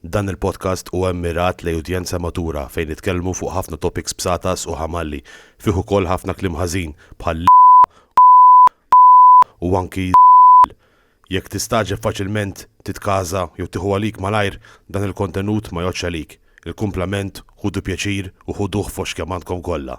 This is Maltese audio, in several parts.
Dan il-podcast huwa mmirat lejn udjenza matura fejn nitkellmu fuq ħafna topics bsatas u ħamalli, fih ukoll ħafna kliem ħażin bħal l, u anki z, jekk tistagħġeb faċilment titkaża jew tieħu għalik malajr dan il-kontenut ma jgħoddx għalik, il-kumplament ħudu pjaċir u ħuduh fost kemm għandkom kollha.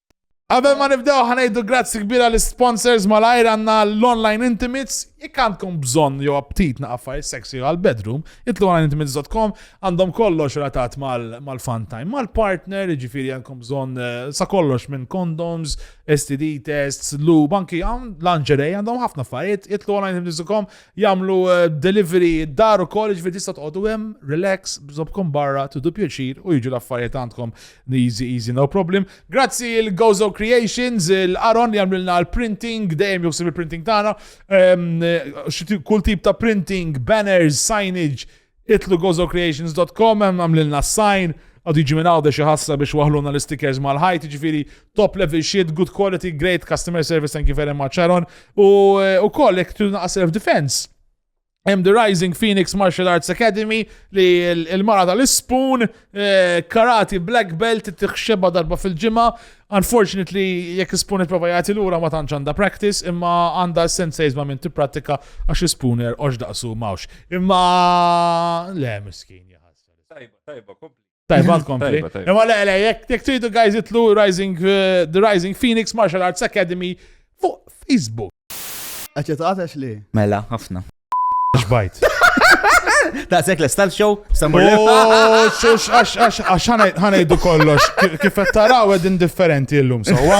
Qabel ma nibdew ħa ngħidu grazzi kbir għal sponsors malajr għandna l-online intimates jekk għandkom bżonn jew aptit na' affarijiet sexy għal bedroom, itlu għal intimates.com għandhom kollox relatat mal-fun time, mal-partner, jiġifieri għandkom bżonn eh, sa kollox minn condoms, STD tests, lube, anki għam lingerie għandhom ħafna affarijiet, itlu għal intimates.com jagħmlu eh, delivery dar ukoll jiġifieri tista' tqogħdu hemm relax bżobkom barra tudu pjaċir u jiġu l-affarijiet għandkom. Easy easy no problem. Grazzi il Gozo Creations, il Aron li għamlilna l-printing, dejjem juħsib il-printing tagħna. Ehm, kull tip ta' printing, banners, signage, itlu gozocreations.com, għamlilna sign, għadu jġi minn għawda xaħassa biex waħluna l-stickers mal-ħajt, ġifiri top level shit, good quality, great customer service, thank you very much, Aron. U eh, koll, jek tu naqas self-defense Hemm The Rising Phoenix Martial Arts Academy li l-mara tal-ispun, eh, karati black belt, tiħxeba darba fil-ġimgħa. Unfortunately, jekk ispun il-prova jagħti lura ma tantx għandha practice, imma għandha sensays ma minn tipprattika għax ispuner għax daqsu mawx. Imma le miskin jaħasra. Tajba, tajba, kompli. Tajba tkompli. Imma le, le, jek tridu guys itlu Rising, uh, The Rising Phoenix Martial Arts Academy fuq Facebook. Għacċet għatax li? Mela, ħafna. Xbajt. Da' sekk l-estal show, samur Għax ħanajdu kollox, kif taraw ed indifferenti l-lum, sowa?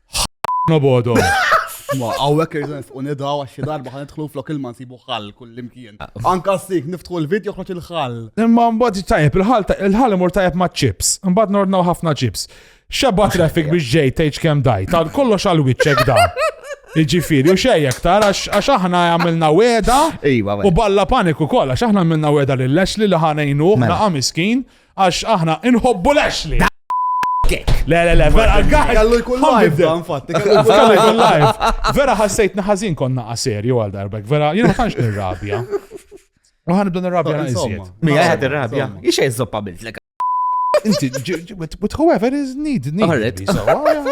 Ħna bodhom. Ma għawek irżens u nidaw għaxi darba ħan nidħlu flok il-man sibu ħall kullimkien. Ah. Anka s-sik niftħu l-video ħroċ il-ħall. Imma mbagħad tajjeb il-ħall il-ħall imur tajjeb ma' chips. Mbagħad nordnaw ħafna chips. Xabba traffic biex ġej tgħid kemm daj. Ta' kollox għal wiċċek da. Iġifiri, u xej aktar, għax aħna għamilna weda. U balla paniku koll, għax aħna għamilna weda l-lex li l-ħanajnu, mela. naqa miskin, Għax aħna inħobbu l-Ashley. Le, le, le, vera, għaj. Kallu jkun live, infatti. Kallu jkun live. Vera ħassejt naħazin konna għaseri għal darbek. Vera, jena ma tantx nirrabja. U ħan nibda nirrabja għal Mi għajħad nirrabja. Ixa jizzoppa bil-flek. Inti, but whoever is need, need. Alright.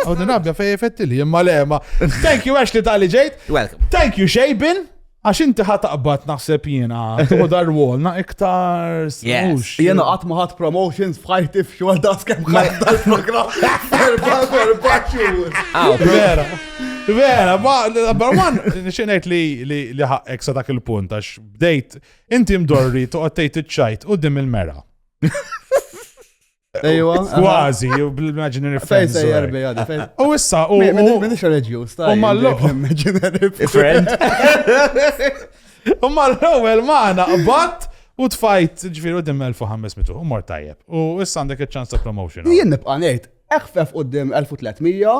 U nirrabja fej effetti li jemma lema. Thank you, Ashley, tal-li ġejt. Welcome. Thank you, Shaybin. Għax inti ħat taqbad naħseb jiena, tuħu dar wall na iktar smux. Jiena qatt ma ħadd promotions f'ħajti f'xogħol da skem ħadd dal-programm. Erba' erba' xhur. Ah, vera. Vera, ma number one, nixinajt li li li ħaqek sa dak il-punt għax bdejt inti mdorri toqgħod tgħid iċ-ċajt qudiem il-mera. Ejwa. Kważi, bil-imaginary friends. Fejn sejjer bija di fejn. U issa, u. Minix reġjus, ta' u mallu. Imaginary friend. U mal-ewwel maħna qbad u tfajt ġifieri qudiem 1500 u mor tajjeb. U issa għandek iċ-ċans ta' promotion. Jien nibqa' ngħid, eħfef qudiem 1300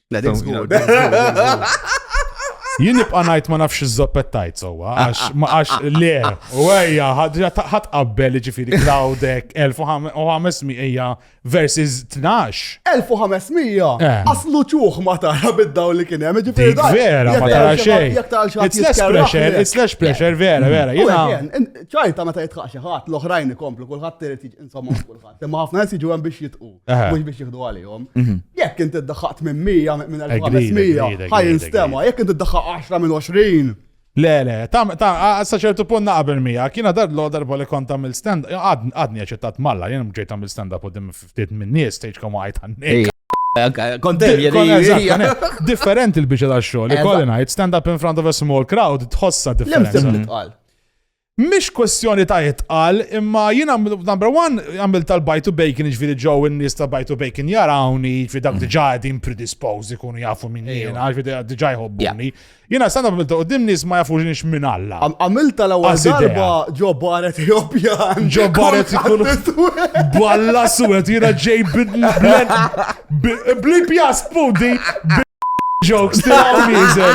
La dik żgur. Jien nibqa' ngħid ma nafx iż-żoppettajt sewwa għax ma għax le u ejja ħadd qabbel jiġifieri Cloudek 1500 hija versus 12. 1500 eh. aslu ċuħ ma tara bid-daw li kien hemm ġifieri dak. Vera ma tara xejn. It's less pressure, it's less pressure vera vera. Jiena ċajta meta jitħaq xi ħadd l-oħrajn ikomplu kulħadd irid insomma kulħadd. Imma ħafna nies jiġu hemm biex jitqu, mhux biex jieħdu għalihom. Mhm. Jekk inti ddaħħaq 800 minn 1500, ħaj instema, jekk inti ddaħħaq 10 minn 20. Le, le, ta' sa ċertu punt naqbel mija, kiena dar l darba li kont għamil stand, għadni għaċettat malla, jena mġejt għamil stand up u dim ftit minn nies, stage kom għajt għanni. Kontem, Differenti l-bicċa ta' xogħol, li kolli ngħid stand up in front of a small crowd tħossa differenti. Mhix kwestjoni ta' itqal, imma jiena number one għamil tal-buy to bacon jiġifieri ġew in-nies ta' buy to bacon jarawni, jiġifieri dak mm. diġà qegħdin predisposed ikunu jafu minn jiena, jiġifieri diġà jħobbuni. Jiena sanda għamilt qudiem nies ma jafux nix minn Alla. Għamilt tal-ewwel darba ġo baret Ewropjan. Ġo baret ikun balla suwed jiena ġej bidlen Blip jas pudi jokes tiegħu miżel.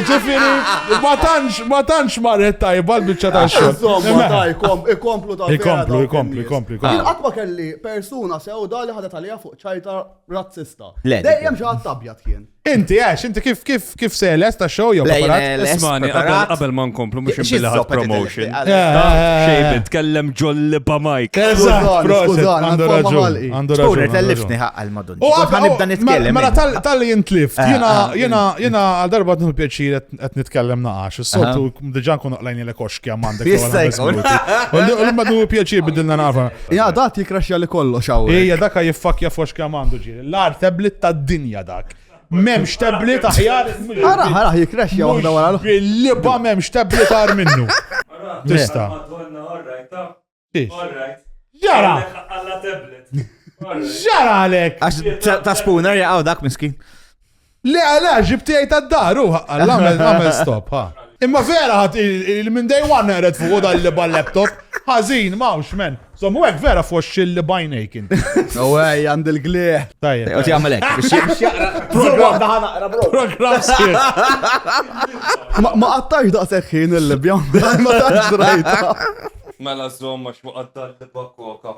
Ġifieri ma tantx ma tantx marret tajba l-biċċa ta' xogħol. Insomma, daj, ikomplu ta' Ikomplu, ikomplu, ikomplu. Jien qatt ma kelli persuna sewda li ħadet għalija fuq ċajta razzista. Dejjem xi ħadd abjad kien. Inti, għax, inti kif kif kif seles ta' show jew preparat? Ismani, qabel ma nkomplu mhux imbilaħat promotion. Eh, eh, eh. Xejn tkellem ġolli pa' Mike. Eżatt, prożon, għandu raġun. Għandu raġun. Tkun tellifni ħaqqa l-madun. U għabba nibda nitkellem. Mela tal-li jintlif, jiena jiena jiena għal darba nħu pjaċir qed nitkellem naqax. Is-soltu diġà nkun oqlajni l koxki għamandek. Jista' jkun. U l-madu pjaċir bidilna nafa. Ja, dat jikraxja li kollox hawn. Ija, daka jiffakja foxki għamandu ġi. L-agħar tablet tad-dinja dak. M'hemmx tablet aħjar. Araħ, araħ jikrexja waħda wara l-oħra. Bil-liba m'hemmx tablet agħar minnu. Tista'. Ġara! Ġara għalek! Għax ta' spooner jaqgħu dak miskin. Le għala, ġib tiegħi tad-dar u ħaqqal, għamel stop, ha. Imma vera ħadd il-min day one naqred fuq dan li bal-laptop. Ħażin, mawx men. Sommu hekk vera foxx il bajnejk inti. U għaj, għand il-glieħ. Tajjeb. U tjagħmel hekk biex jaqra. Programm daħan naqra bro. Programm Ma qattax daqshekk ħin il-libja, ma tantx drajta. Mela żomm għax ma qattax libja koka.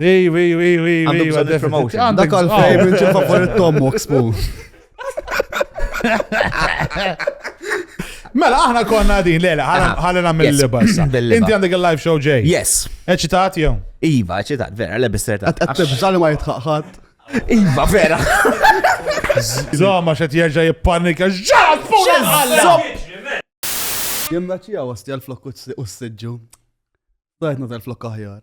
Ej, ej, ej, ej, ej, Għandu bżonn il-promotion. għandek Dak għal bżonn. favorite xi favorit Tom Oxpo. Mela, aħna konna din, lele, Aha. ħalli nagħmel Yes. liba issa. Bil-liba. Inti għandek il-live show ġej. Yes. Eċitat jew? Iva, ċitat, vera, lebis terta. Għattibżal ma jitħaqħat. Iva, vera. Zoma xed jerġa' jippanika. Ġġat fuq il-ħalla! Jemna ċija għasti għal-flok u s-sidġu. Dajtna tal-flok aħjar.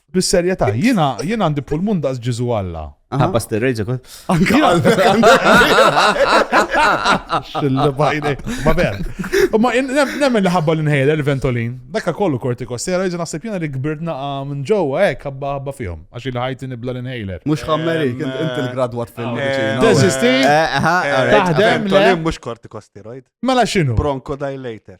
Bis-serjetà, jiena jiena għandi pulmun daqs Ġesu Alla. Ħabba sterrejġa kont. Anke Xillibajni. Ma ver. Ma in- nem- nemmen li ħabba l-inhaler, il-ventolin. Dakka kollu kortikostera, jiġi naħseb jiena li kbirt naqa minn ġewwa hekk ħabba ħabba fihom. Għax il ħajti nibla l-inhaler. Mhux ħammeri, kien inti l-gradwat fil-mediċina. eh, Teżisti? Eh, aha, alright. Taħdem le. Ventolin mhux kortikosteroid. Mela x'inhu? Bronchodilator.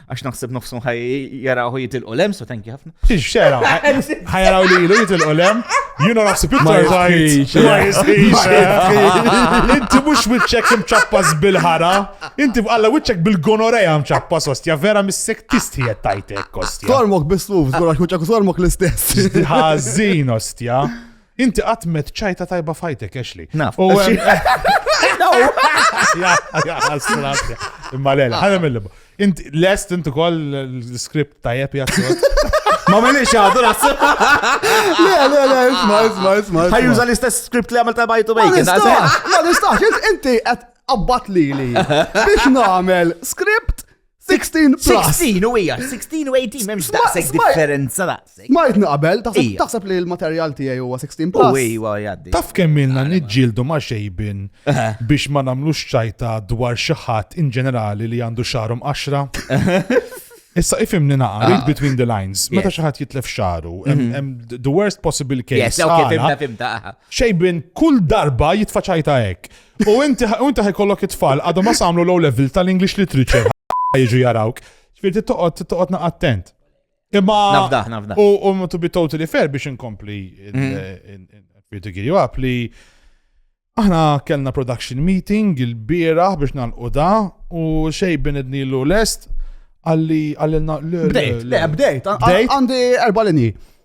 Għax naħseb nofsum ħaj jaraw jitilqu lem, so thank you ħafna. Xiex xera, ħaj jaraw li jilu jitilqu lem, jina naħseb iktar zaħit. Ma jisħiċ. Inti mux wicċek mċappas bil-ħara, inti għalla wicċek bil-gonoreja mċappas ostja, vera mis-sek tisti jettajtek ostja. Tormok bis-suf, zgurax wicċek tormok l-istess. Ħazin ostja. Inti qatt met ċajta tajba fajtek, Ashley. Naf. U Imma l-għela, ħana mill Inti lest inti kol l-skript tajjeb jazzot. Ma minix għadu naħseb. Le, le, le, isma, isma, isma. Ħajjuża l-istess skript li għamil ta' bajtu bejk. Ma nistax, inti għabbat li li. Biex namel skript 16 plus. 16 u hija, 16 u 18 m'hemmx Sma- daqshekk sma- differenza daqshekk. Smajt naqbel, taħseb Ija. taħseb li l-materjal tiegħi huwa 16 U plus. iwa jgħaddi. Taf kemm ilna niġġieldu ma' xejbin biex ma nagħmlux ċajta dwar xi ħadd in ġenerali li għandu xarum qaxra? Issa ifimni naqa, read between the lines. Meta Yes. xi ħadd jitlef xaru, hemm- hemm the worst possible case. Yes, ok, għala, fimta, fimta. aha. Xejbin kull darba jitfaċajta hekk. U inti u inti ħajkollok it-tfal għadhom ma samlu low level tal-English literature jiġu jarawk. Ġifieri toqgħod toqgħod naq attent. Imma Nafdah, nafdah. u u to be totally fair biex inkompli Mm. to you up li aħna kellna production meeting il-bieraħ biex nalqu da u xej binidni l lest għalli għallilna Bdejt, le, bdejt. Għan- Bdejt? Għandi erba' linji.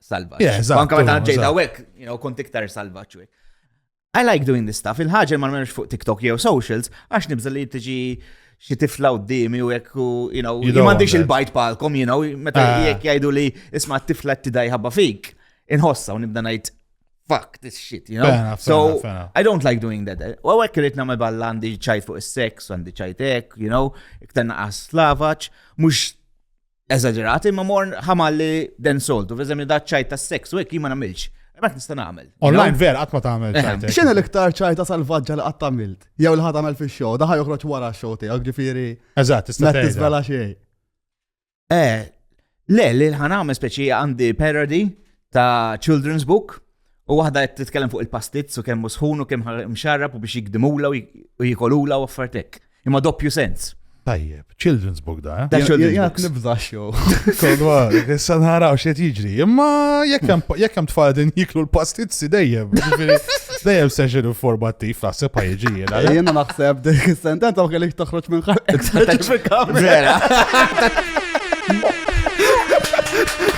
salvaġġ. Yeah, eżatt, Anka meta ġejt eżatt. hawnhekk, you know, kont iktar salvaġġ hekk. I like doing this stuff. Il-ħaġa li ma nagħmilx fuq TikTok jew socials għax nibża li tiġi xi tifla qudiemi u hekk u you know, You jien don't m'għandix want il-bajt palkom, you know, meta Ah. jekk jgħidu li isma' t-tifla tidaj ħabba fik, inħossa u nibda ngħid fuck this shit, you know. Fair enough, fair so enough, fair enough. I don't like doing that. U għek rrit namel balla għandi ċajt fuq il-sex, għandi ċajt ek, you know, iktar naqas slavaċ, mux eżaġerat, imma mor ħamalli den soltu, veżem da ċajt ta' seks, u hekk ma nagħmilx. Mat nista' nagħmel. Online ver qatt ma tagħmel eh. ċajt. X'inhi l-iktar ċajta salvaġġa li qatt tagħmilt? Jew li ħadd għamel fix-show, daħa joħroġ wara x-show tiegħek ġifieri. Eżatt, tista' tiżvela xejn. Eh, le, li ħanagħmel speċi għandi parody ta' children's book U waħda qed titkellem fuq il-pastizz u kemm sħun u kemm mxarrab u biex jikdimula u jikolula u affartek. Imma doppju sens. Tajjeb, children's book da. Da children's book. Jgħat nibza xow. Kodwar, issa nħaraw xiet jiġri. Imma jekk hemm tfal din jiklu l-pastizzi dejjem. Dejjem seġenu formattiv. F'tasib ħajġi jena. Jena naħseb dik is-sentenza ma kellix toħroġ minn ħalqek. Vera.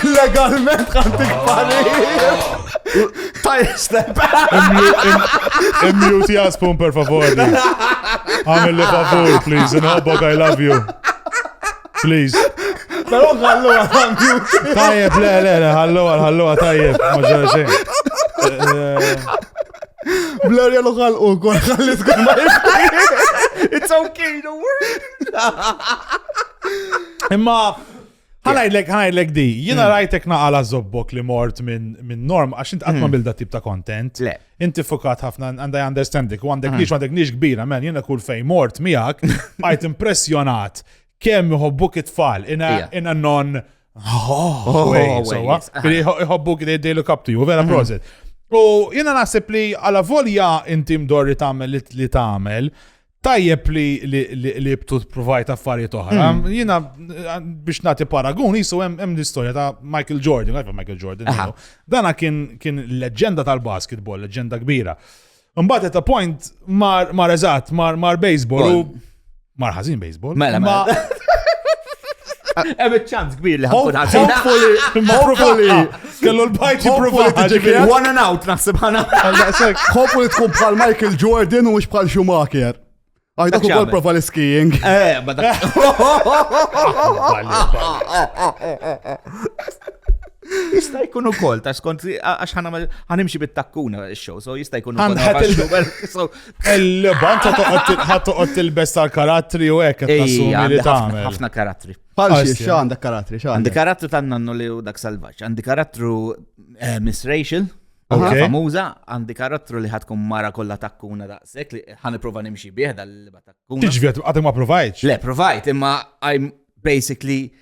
Legalment ħantik parir. Tajja step. Immute jaspun per favor. Għamil li favor, please. Nħobbok, I love you. Please. Pero għallu għal Tajjeb, le, le, le, għallu għal, għallu għal, tajjeb, maġġor xejn. Blur jalu għal u għal għal iskun ma It's okay, don't worry. Imma, ħanajdlek, ħanajdlek di, jina hmm. rajtek naqala zobbok li mort minn norm, għax int għatma hmm. bil-da tip ta' content. Le. Inti fukat ħafna and I understand dik, u għandek nix, għandek nix kbira, man, jena kull fej mort miegħek, għajt impressjonat kemm iħobbuk it-tfal in a non oh, way, sowa, iħobbuk they look up to you, vera proset. U jena naħseb li għala volja inti mdorri tagħmel li tagħmel, Tajjeb li li btu provajt affarijiet oħra. Hmm. Jiena biex nagħti paragun jisu hemm l-istorja ta' Michael Jordan, għajfa Michael Jordan. Dana kien kien leġenda tal-basketball, leġenda kbira. Mbagħad at a point mar mar eżatt, mar mar baseball u mar ħażin baseball. Mela, mela. Hemm ċans kbir li ħankun ħażin. Hopefully, Kellu l-bajt jipprova jiġi one and out naħseb ħana. Ħobbu li tkun bħal Michael Jordan u mhux bħal Schumacher. Għajda ku kol prova l-skiing. Eh, ma dak. Jista jkun ukoll ta' skont għax ħanimxi bit-takkuna x-show, so jista jkun ukoll. Il-banta toqgħod il-best tal-karattri u hekk qed tassumi li tagħmel. Ħafna karattri. Bħal Għarsi, xiex, ja. għandek karattri, xa. Għandi karattru ta' nannu li u dak salvaġġ. Għandi karattru eh, Miss Rachel, Ok. okay. famuża, għandi karattru li ħatkun mara kollha takkuna daqshekk li ħaniprova nimxi bih dal-liba takkuna. Tiġvi għatem ma provajċ. Le, provajt, imma I'm basically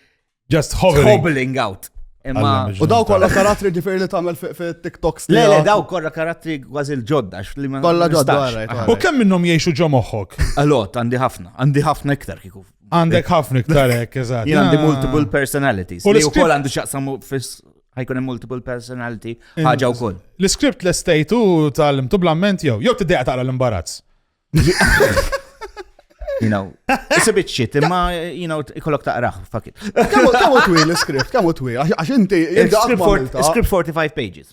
Just hovering. hobbling out. Imma Alla, mhux U daw verità. kollha karattri ġifieri li tagħmel fi- fi TikToks Le, le, tiegħek. daw korra karattri kważi l-ġodda. għax li ma- Kollha ġodda, nistax. right, Aha. right. U kemm minnhom jgħixu ġo moħħok? Allot, għandi ħafna, għandi ħafna iktar kiku. Għandek ħafna iktar hekk, eżatt. Jien għandi ah. multiple personalities. U li wkoll għandu x'jaqsam fis ħajkun hemm multiple personality ħaġa wkoll. L-iskript l-estejtu tal-imtu blamment jew jew tiddeqa taqra l-imbarazz. You know, it's a bit shit, imma, you know, ikollok taqraħ, fuck it. Kamu twil l-iskript, kamu twil, għax inti, il-script 45 pages.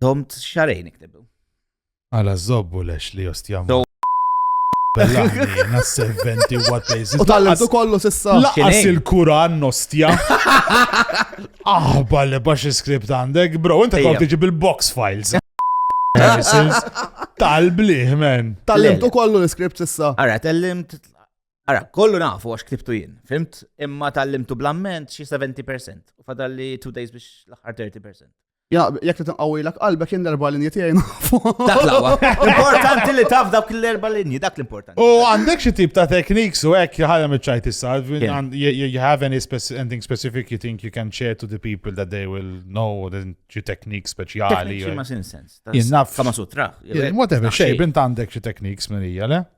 Domt xarejn iktibu. Għala zobbu lex li jostjam. Bellani, serventi what they U tal-għadu kollu sissa. Laqas il-Kuran nostja. Aħba li bax il-skript għandek, bro, inta kont tiġi bil-box files. Tal-bliħ, men. Tal-limt u kollu l-skript sissa. Ara, tal-limt. Ara, kollu nafu għax ktibtu jien. Fimt, imma tal-limtu blamment xie 70%. U fadalli 2 days biex l-ħar 30%. Ja, jek t tinqawilek qalbek jien l-erba linji tiegħi nafu. Dak l-aqwa. Importanti li taf dak l-erba linji, dak l-importanti. U għandek xi tip ta' tekniks u hekk ħadem iċ-ċajt issa. You have any anything specific you think you can share to the people that they will know the xi teknik speċjali. Xi ma sin sens. Jien naf. Kama sutra. Whatever, xej, bint għandek xi tekniks minn hija, le?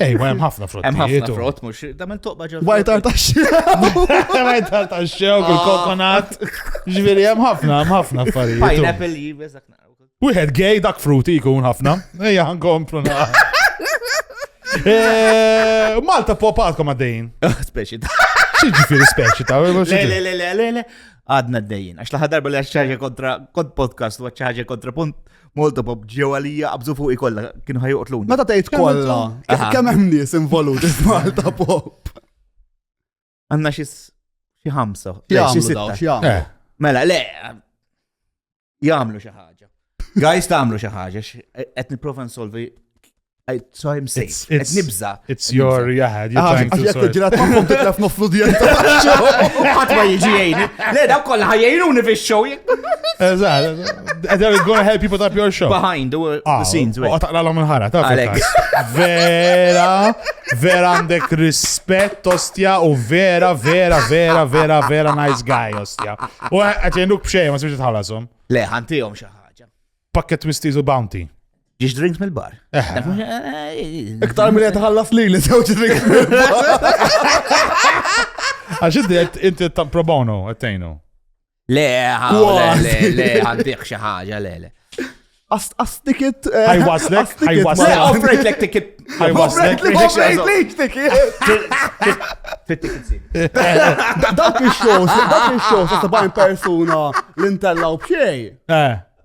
Ej, ma hemm ħafna frott. Hemm ħafna frott mhux tagħmel toqba ġew. Wajt tartaxxew. Wajt tartaxxew kull ah. kokonat. Ġifieri hemm ħafna, hemm ħafna affarijiet. Pineapple jibes dak Wieħed gej dak fruti jkun ħafna. Ejja nkomplu na. Eh, Malta popatkom għaddejn. Ah, speċi ta' ġifiri speċi ta' Le, le, le, le, le, le. Għadna d-dejjin. Għax laħa darba li għax ċaħġa kontra kont podcast u għax ċaħġa kontra punt Molto pop, ġew għalija qabżu fuq ikolla, kienu ħajuqtluni. Meta tgħid kollha, kemm hemm nies involuti f'Malta pop. Għandna xi xi ħamsa, xi sitta. Eh. Mela, le, jagħmlu xi ħaġa. Guys tagħmlu xi ħaġa, qed nipprova nsolvi So I'm safe. It's nibza. It's your jahad. Għax jek ġirat maħkom titlef noflu djenta. Għat ma jġi jgħini. Le, daw kolla ħajjajruni fi show. Eżad. They're gonna help you put up your show. Behind the ah, scenes. U taqla l-om il-ħara. Alex. Vera, vera għandek rispett, ostja, u vera, vera, vera, vera, vera nice guy, ostja. U għat jenduk bxej, ma s-sibġi tħalasum. Le, ħantijom xaħġa. Pakket twisties u bounty. Ġiex drinks mill-bar. Iktar minn qed ħallas li li żewġ drinks Għax inti qed inti ta' pro bono qed tgħinu. Le, ha, le, Kważi. le, le, għandih xi ħaġa, le, le. Astikit. Ħajwaslek, Le, ħajwaslek. offrejt lek ticket. Ħajwaslek. Fit-ticket seat. Dak il-shows, dak il-shows, ta' bajn persuna l-intella u bxej. Eh,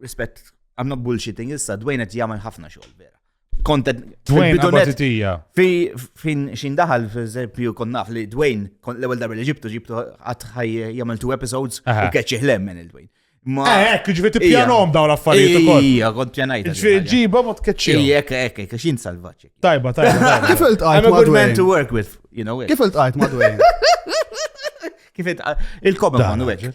Rispett, I'm not bullshitting issa, Dwayne qed jagħmel ħafna xogħol vera. Kontet Dwayne fi fin xin daħal f'eżempju kon naf li Dwayne kon l-ewwel darba li ġibtu ġibtu qatt ħaj jagħmel two episodes u keċċi ħlem minn il-Dwayne. Ma eh, ekk, ġifiet ippjanom daw l-affarijiet ukoll. Ija, kont pjanajt. Ġifiet ġiba ma tkeċċi. Ija, ekk, ekk, ekk, xin salvaċi. Tajba, tajba. Kif il-tqajt ma' Dwayne? to work with, you know. Kif il-tqajt ma' Dwayne? Kif il-tqajt? Il-kobem ma' Dwayne.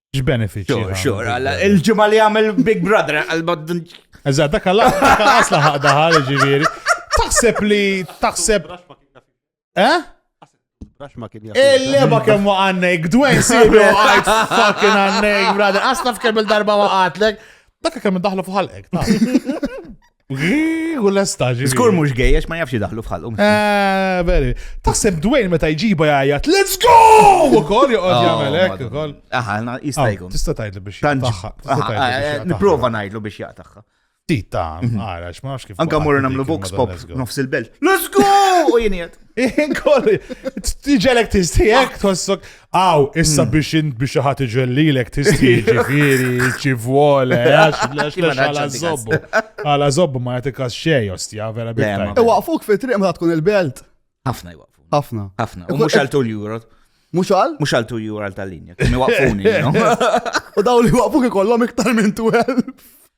X'benefiċċji? Xur, xur, għalla, il-ġimgħa li għamel Big Brother, għalba. Eżatt, dak għalla, dak għasla ħaqda ħal ġifieri. Taħseb li taħseb. Eh? Il-leba kemm waqannek, Dwayne Sibu għajt fucking għannek, brother. Asla f'kemm il-darba waqatlek. Dak kemm daħlu fuq ħalqek. U l-esta ġi. Skur mux gej, għax ma jafx daħlu fħalqu. Eh, veri. Taħseb Dwayne meta jġiba jgħajat, let's go! U kol joqgħod oh, jagħmel hekk ukoll. Aha, jista' ah, jkun. Tista' tgħidlu biex jaqtaħħa. Eh, Niprofa ngħidlu biex jaqtaħħa. Tita, mhm. għara, ma nafx kif. Anka morru namlu vox pop nofs il-belt. Let's go! U jiniet. Inkol, tiġelek tistijek, tossok. Aw, issa biex int biex ħat iġellilek tisti ġifiri, ċivole, għax lex lex għala zobbu. Għala zobbu ma jatikas xej, ostja, vera biex. Iwaqfuk fi triq ma tkun il-belt. Ħafna iwaqfu. Ħafna. Ħafna. U mux għal tul juro. Mux għal? Mux għal tul juro għal tal-linja. Kemi waqfuni. U daw li waqfuk ikollom iktar minn 12.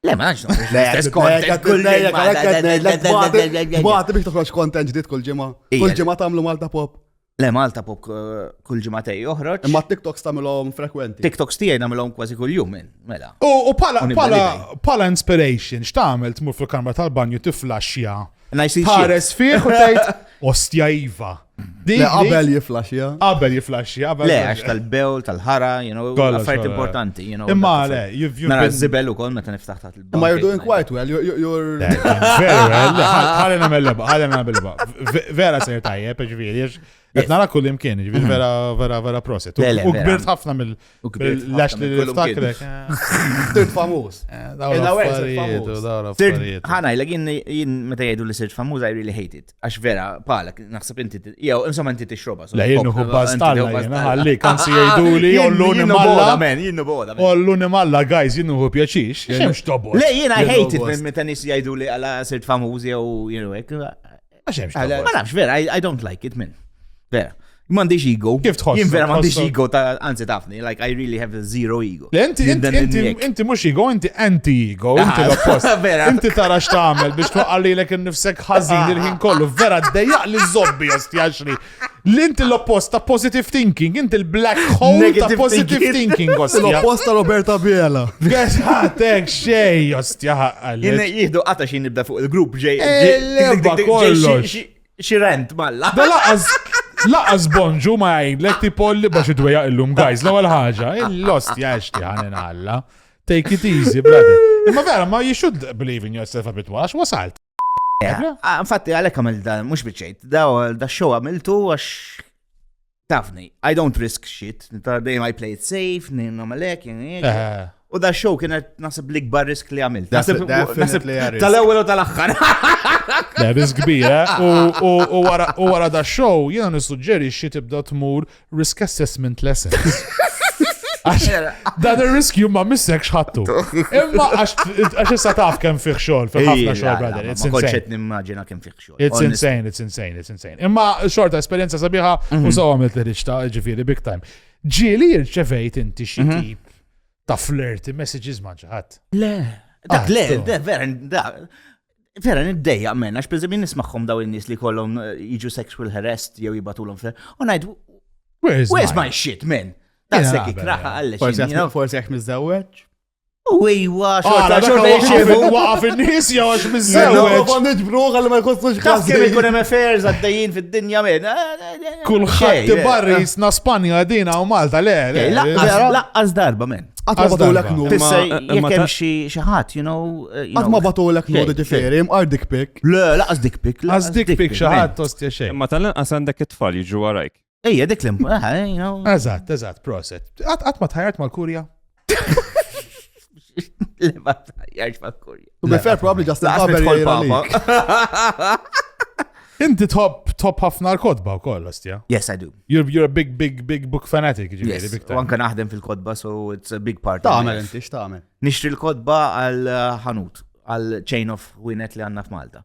Le, ma nafx noħroġ l-istess kontent kull ġimgħa. Dwati biex toħroġ kontent ġdid kull ġimgħa. Kull ġimgħa tagħmlu Malta Pop. Le, Malta Pop kull ġimgħa tej joħroġ. Imma TikToks tagħmilhom frekwenti. TikToks tiegħi nagħmilhom kważi kull jum minn, mela. U pala pala inspiration, x'tagħmel tmur fil-kamra tal-banju tiflaxxja Tħares fih u tgħid ostja iva. Dik qabel jiflaxja. Qabel jiflaxja. Le, għax tal-bewl, tal-ħara, you know, affarijiet importanti, you know. Imma le, jivju. Nara zibel u kol meta niftaħ taħt il-bewl. Imma you're doing quite well, you're. Very well, ħalli namel leba, ħalli namel leba. Vera sejr tajjeb, ġviri, Qed nara kull imkien, ġifieri vera vera vera proset. U kbirt ħafna mill lax li niftakrek. Sirt famuż. Ħana jlek jien meta jgħidu li sirt famuż I really hate it. Għax vera palek naħseb inti jew insomma inti tixroba. Le jien uħu bastalla ħalli kan si jgħiduli jollu nimalla. Jien bola. Ollu nimalla guys jien uħu pjaċix. Le jien I hate it minn meta nies jgħidu li għala sirt famuż jew jien hekk. Ma nafx, vera, I don't like it, min. Vera. Mandiġ ego. Kif tħoss? Jien vera mandiġ ego ta' anzi tafni, like I really have zero ego. Inti, inti, inti mux ego, inti anti-ego, ah, inti l-oppost. Vera. Inti tara x'tagħmel biex twaqqalilek innifsek ħażin ah. il-ħin kollu. Vera, dejjaq li zobbi jaxri. L-inti l-oppost ta' positive thinking, inti l-black hole ta' positive thinking, ostia. L-oppost ta' Roberta Biela. Guess ħatek xej, ostia ħaqqal. Jina jihdu għata xin nibda fuq il-grupp ġej. Elba eh, kollox. Xirent, malla. Da laqas, laqas bonġu ma jgħidlek ti polli bax id-dweja illum, guys, l-ewwel ħaġa, il-lost jaxti ħanin alla. Take it easy, brother. Imma vera, ma you should believe in yourself a bit, għax wasalt. Infatti, għalek għamil da, mux bieċejt, da, da show għamiltu għax tafni, I don't risk shit, ta' dejjem I play it safe, n-namalek, U da show kienet nasib li gbar risk li għamil. Nasib li għarrisk. Tal-ewel u tal-axħar. Da risk kbira. U wara da show jena nissuġġeri xie tibda tmur Risk assessment lessons. Dan ir-riskju ma missek xħattu. Imma għax issa taf kemm fih xogħol, fih ħafna xogħol, brother. It's insane. nimmaġina kemm fih xogħol. It's insane, it's insane, it's insane. Imma xorta esperjenza sabiħa u mhm. sawa għamilt li riċta ġifieri big time. Ġieli rċevejt inti xi mhm. tip ta' flirty messages ma ġaħat. Le, dak ah, le, vera, Vera, niddejja minn, għax per jien nismaħħom daw il-nis li kollom eh, jiġu sexual harassed jew jibatulom fl u najd, where's my shit, man? Dassek ikraħa għalli. Forse għax mizzawċ? U ejwa, xorta, xorta, xorta, waqaf il-nis, jaw għax mizzawċ. U għandit bruħ għalli ma jkostux kaf. Kif ikun hemm affairs għaddejjin fid-dinja minn. Eh, eh, eh, Kulħadd barri jisna Spanja dina u Malta, le. Laqqas darba, men. Għatma batulek nu. Tissa, jek hemm xi ħadd, you know. Uh, Għatma batulek nu di ġifieri, mqar dik pik. Le, laqas dik pik. Laqas dik pik xi ħadd tostja xejn. Imma tal-inqas għandek it-tfal jiġu għarajk. Ejja, dik l-imp. Eżatt, eżatt, proset. Għatma tħajart mal-kurja. Le, ma tħajjarx mal-kurja. U be fair, probably Justin Laqas Barber nidħol jgħidha papa. lik. Inti tħobb tħobb ħafna l-kodba wkoll, ostja. Yes, I do. You're, you're a big, big, big book fanatic, ġifieri, Yes, big u time. anka naħdem fil-kodba, so it's a big part. of Tagħmel life. inti x'tagħmel. Nixtri l-kodba għal uh, ħanut, għal chain of winet li għanna f'Malta.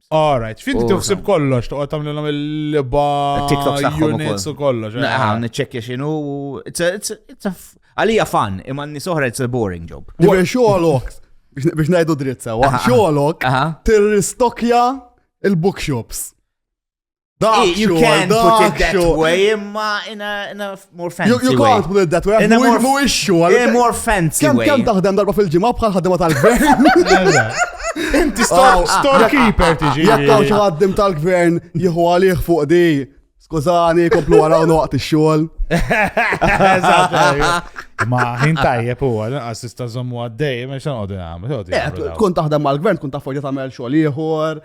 Alright, finti tuħsib kollox, toqgħod tagħmlilhom il-liba units u kollox. Eh. Naħan niċċekkja x'inhu għalija fan, imma n-nies oħra it's a boring job. Dibir xogħolok biex ngħidu dritt sewa, xogħolok tirristokja il-bookshops. Dak you can put it that way, imma in a, in a more fancy way. You can't put it that way, in a more, more issue. In a more fancy way. Kem taħdem darba fil-ġimgħa bħal ħaddiema tal-gvern. Inti storekeeper tiġi. Jekk hawn xi ħaddim tal-gvern jieħu għalih fuq di. Skużani, komplu għaraw noqt ix-xogħol. Ma ħin tajjeb huwa, lanqas tista' żommu għaddej, ma xan qogħdu nagħmel. Tkun taħdem mal-gvern, tkun taf forja tagħmel xogħol ieħor.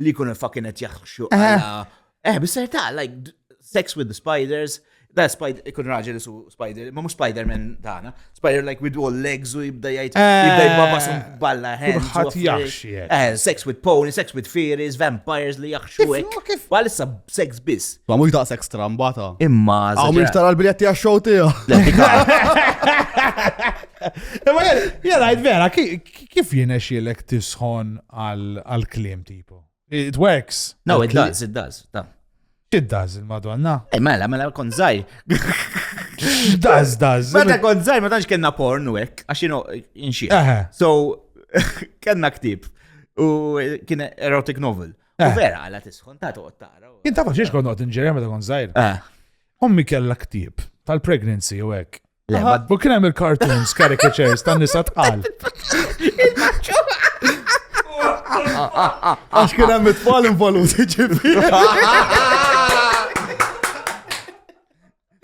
Li kun il-fucking qed jaħxu għala. Eh, bis-serta, like, sex with the spiders. Da, spider, ikun raġel su spider, ma mux Spider-Man dana. Spider like with all legs u jibda jajt, jibda jibba sun balla hands. Ħat jaxxie. Eh. eh, sex with pony, sex with fairies, vampires li jaxxu ek. Bħal issa sex bis. Ma mux da sex trambata. Imma. Għaw mux tara l-biljetti għaxxow tiju. Imma jgħid vera, Kif jinexilek tisħon għal-klim tipo? It works. No, it does, it does. It does, il-madonna. Eh, mela, mela, kon zaħi. Does, does. Meta kon zaħi, ma tanx kena porn u ek, għax jino inxie. So, kena ktib. U kien erotic novel. U eh. vera, għala tisħon, ta' toqt tara. Kien ta' faċiex kon noqt inġerja meta kon zaħi. Eh. Ommi kella ktib tal-pregnancy u ek. Le, ma U kien hemm il-cartoons, caricatures tan nisa tqal. Għax kien hemm it-tfal involuti ġifi.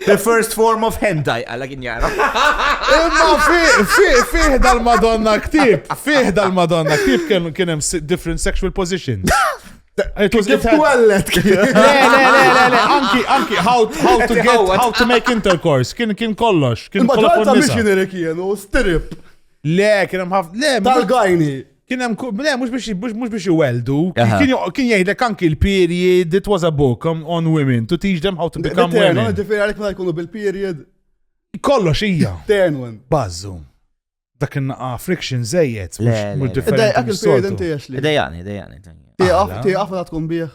The first form of hentai, għalla kien jara. Imma fi- fi- fih dal-Madonna ktib, fih dal-Madonna ktib kien kien hemm si- different sexual positions. Kif twellet? Le, le, le, le, anki, anki, how, how to get, how to make intercourse, kien kien kollox. Kien kollox. Maġġoranza missionary kienu, stirip. Le, kien hemm ħafna, le, tal-gajni. Kien hemm, le, mhux biex mhux biex iweldu. Kien jgħidlek anki l-period, it was a book um, on women to teach them how to become women. Ġifieri għalhekk ma jkunu bil-period. Kollox hija. Tenwen. Bazzu. Dak in-naqa friction żejjed. Le, le, mhux le. differenti Id-dajqak il-period mis-soltu. inti għax li. Idejani, idejani. Tieqaf, Aħla. tieqaf meta tkun bih.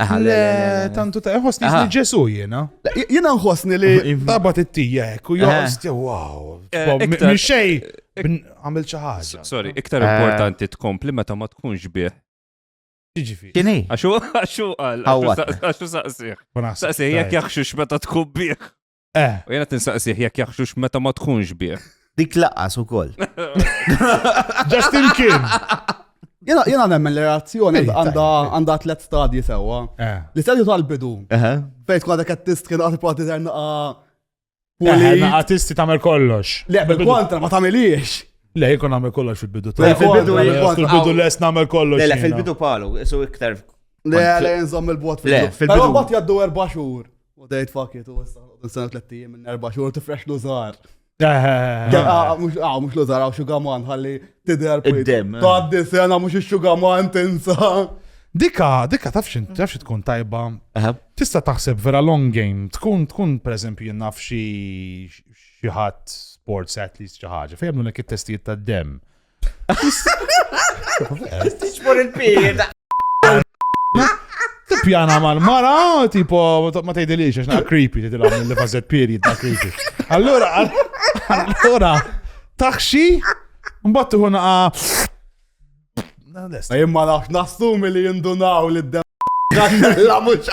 Aha, le, le, le, Le, le. tantu ta' ħossni Aha. li Ġesu jiena. Le, j- Jiena nħossni li Tabat it-tija hekk u joqos tiegħu wow. Eh, Fom, iktar- Minn xej bn- għamil xi ħaġa. Sorry, iktar Eh. importanti tkompli meta ma tkunx bih. Jiġifieri. Kini? Għaxu, għaxu għal, Għawatna. għaxu saqsiħ. Saqsiħ, jek jaxxux meta tkun bih. Eh. U jena tinsaqsih jekk jaħxux meta ma tkunx bih. Dik laqas u koll. Just in kien. Jena, jena nemmen l-reazzjoni għanda tlet stadji sewa. Eh. Li stadju tal-bidu. Fejt kwa dak għattist kien għati prati terna Għatisti tamel kollox. Le, bil-kontra ma tamiliex. Le, jikon għamil kollox fil-bidu. Fil-bidu, fil-bidu les namel kollox. Le, fil-bidu palu, su iktar. Le, le, nżom il-bot fil-bidu. Fil-bidu. Bat jaddu erba xur. U dejt fakit, u issa nqodu nsena tlet tijiem minn erba xhur tifrex lużar. Mux lużar għaw xugaman ħalli tider Id-dem. Taddi sena mux xugaman tinsa. Dika, dika taf xin, taf xi tkun tajba. Tista' taħseb vera long game, tkun tkun pereżempju jien naf xi xi ħadd sports athletes xi ħaġa, fejn jagħmlu nek it-testijiet tad-dem. Tiġbor il-pir. Tippjana mal-mara, tipo, ma tgħidilix, għax creepy, tgħidilhom mill-li fażet piri, ta' creepy. Allura, allura, taħxi, mbattu hu naqa. Lest. Jien ma nafx nassumi li jindunaw li d La mux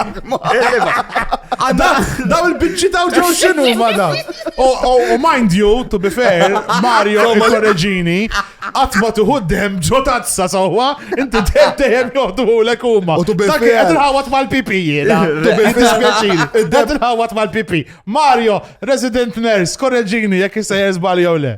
Daw il-bicċi daw ġew xinu ma daw. U mind you, to be fair, Mario il-korreġini, għatma tuħu d-dem ġo tazza sawa, inti d-dem joħdu u l-ekuma. U to be fair. Dak il-ħawat mal-pipi jena. To be fair. Dak il-ħawat mal-pipi. Mario, resident nurse, korreġini, jek jisajja zbali jew le.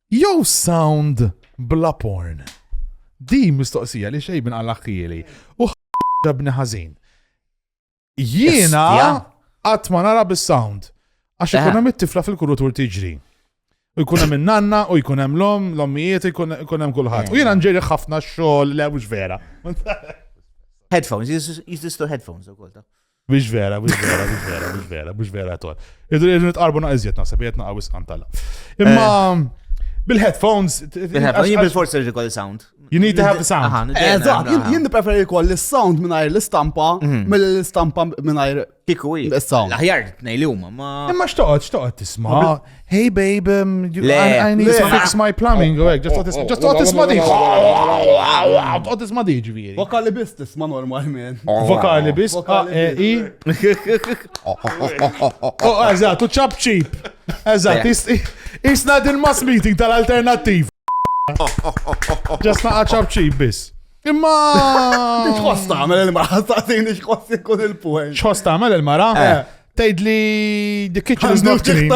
Jew sound bla porn. Di mistoqsija li xejn minn għal-akkieli. U ħabni ħażin. Jiena qatt ma nara bis-sound. Għax ikun hemm it-tifla fil-kurutur tiġri. U jkun hemm in-nanna u jkun hemm l-om, l-ommijiet, jkun hemm kulħadd. U jiena nġeri ħafna xogħol le mhux vera. Headphones, jiżistu headphones ukoll ta'. Biex vera, biex vera, biex vera, biex vera, biex vera tol. Idu jieġu nitqarbu naqizjet naħseb jgħet naqaw isqantalla. Imma eh. bil-headphones. Bil-headphones, jien bil-forsi rġi kolli sound. You need to have the sound. Eżat, eh, jien preferi kolli sound minnajr l-istampa, mhm. mill-istampa minnajr. Kiku i. Sound. Aħjar, nej li huma, ma. Imma xtoqgħod, xtoqgħod tisma'. Hey babe, um, you, Le. I, I need Le. to fix my plumbing. Oh, oh, just oh, oh, just oh, oh, isma' di. Tqgħod isma' di ġifieri. Vokali biss tisma' normal man. Vokali biss A E I. Oh, eżatt, u chop cheap. Eżatt, isna din mass meeting tal-alternattiv. Just naqa' chop cheap biss. Imma. X'ħoss tagħmel il-mara? Taqsini x'ħoss ikun il-puħel. X'ħoss tagħmel il-mara? Eh. Tgħid li the kitchen is not clean.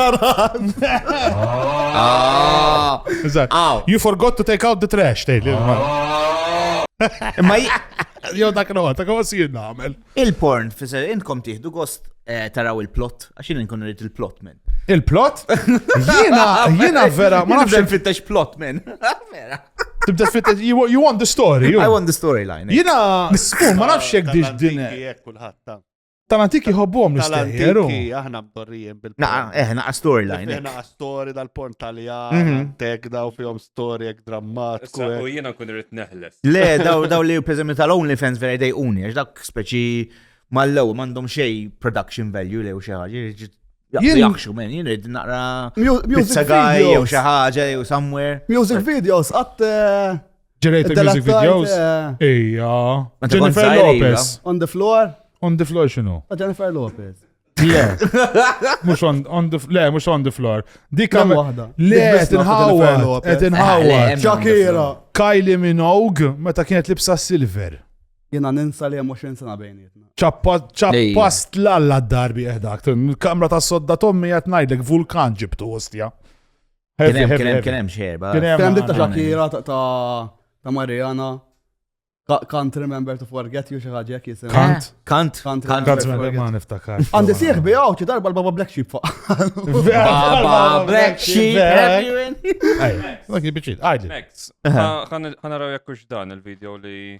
Ah. Eżatt. Aw. You forgot to take out the trash, tgħid li. Imma i- Jew dak no, dak huwa sir nagħmel. il-porn, fisser, intkom tieħdu gost eh, taraw il-plot, għax jien nkun rrid il-plot minn. Il-plot? Jiena, jiena vera, ma nafx Nibda nfittex plot minn. Vera. tibda fit you wa- you want the story. you. I want the storyline. eh. Jiena, skur, ma nafx jekk dix din. Jekk kulħadd ta. Tal-antik jħobbuhom l-istejjer. Tal-antik aħna mdorrijiem bil Naqa, eh, naqa storyline. Naqa story dal-porn taljan, mhm. tek daw fihom story ek drammatiku. U jiena kun irrid neħles. Le, daw daw li pereżempju tal-OnlyFans vera jdejquni, għax dak speċi mal-lew m'għandhom xej production value lew xi ħaġa. Jaxu men, jien rrid naqra music video jew xi ħaġa jew somewhere. Music videos qatt eh, Ġerejt il-music videos? Eh, Ija. Jennifer Lopez. On the floor? On the floor xinu? Oh, Jennifer Lopez. Le. Mux on, on the floor. Le, mux on the floor. Dik għam wahda. Le, qed inħawad. Qed inħawad. Shakira. Kylie Minogue, meta kienet libsa silver. Jena ninsa li jemmu xin sena bejnietna. ċappast l-alla d-darbi eħdak. Kamra ta' sodda tommi jatnajdek vulkan ġibtu ostja. Heavy, Kien hemm- heavy, kien hemm- heavy. kien hemm xerba. Kien hemm- Kien hemm dit ta' Għandna- Shakira ta' ta' ta' Mariana. Ca- Can't remember to forget you xi ħaġa hekk jisimha. Kant. Kant. Kant. Kant. Kant ma- Forget. ma niftakar. Għandi sieħ bi għawċi darba l-baba Black Sheep fuq. Baba Black Sheep. have you in- Dak il-biċċiet, għajdli. Max, ħanaraw jekk hux dan il-video li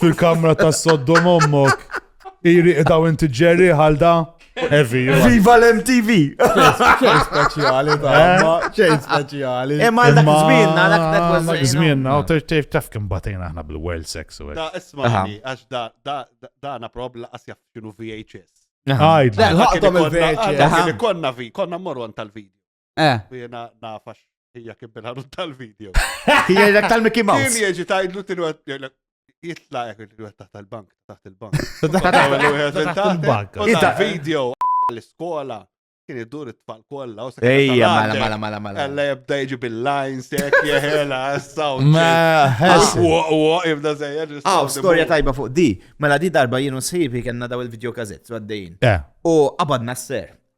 Fil-kamra ta' soddom ommok. Iri daw inti ġerri ħalda. Evi. Viva l-MTV! ċejn speċjali ta' eh? ma, ċejn speċjali. Imma eh, dak zmienna, dak dak dak zmienna, u tef tef kem batejna aħna bil-world sex u Da, ismani, għax da, da, da, na prob laqas jaff xinu VHS. Għajd, ħaqtom il-VHS. Konna vi, konna morru għan tal-video. Eh. U jena nafax hija kien bil tal-video. Hija dak tal-Mickey Mouse. Kien jieġi tajdlu tilu jitla jek il taħt il-bank, taħt il-bank. Taħt il-bank. Taħt il-video l-iskola kien idur it-tfal kolla. Ejja, mala, mala, mala, mala. Għalla jibda jġi bil-lines, jek jahela, s-saw. Ma, jibda zejjer. Aw, storja tajba fuq di. Mela di darba jienu sħibi kena daw il-video kazet, għaddejn. Eh. U għabadna s-ser.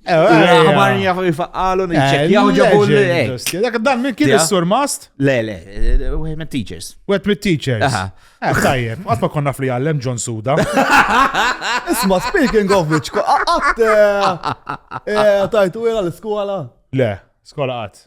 Għamar eh, eh, jafu jifaqalu, nċekjaw eh, ġabu l Dak dan minn kien il-sur mast? Le, le, wieħed mit teachers. Wieħed mit teachers. Tajjeb, għat ma konna fli għallem John Suda. Isma, speaking of which, għat tajtu għira l-skola? Le, skola għat.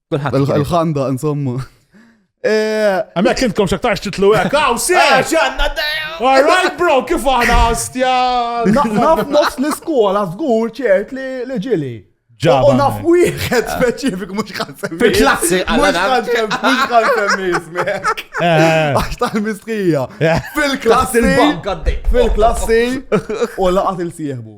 Il-ħanda, insomma. Eh, Għamek kintkom xaktarx titlu għek, għaw, si! Eh, ġanna, All right, bro, kif għana għastja? Naf nofs l-iskola, zgur ċert li ġili. Ġaba. Naf wieħed speċifik mux għansem. Fil-klassi, għalla għansem, mux għansem jismek. Eh. Għax tal-mistrija. Fil-klassi. Fil-klassi. U laqat il-sieħbu.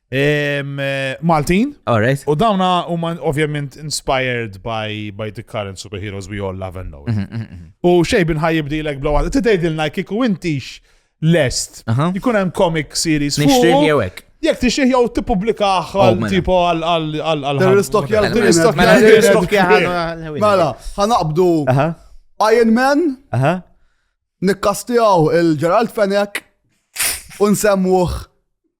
Maltin. Alright. U dawna huma ovvjament inspired by, by the current superheroes we all love and know. Mhm, mhm, mhm. U xej bin ħajib dilek blow out. Tidejdilna kiku intix lest. Aha. Jkun hemm comic series. fuq. Nixtrih jew hekk. Jek tixih jew tippubblika Oh, għal mela. tipo għal għal għal għal. Terroristokja Mela, għal terroristokja mela, għal terroristokja għal- għal- Mela, ħanaqbdu Aha. Iron Man, Aha. nikkastijaw il-Gerald Fennec u nsemmuh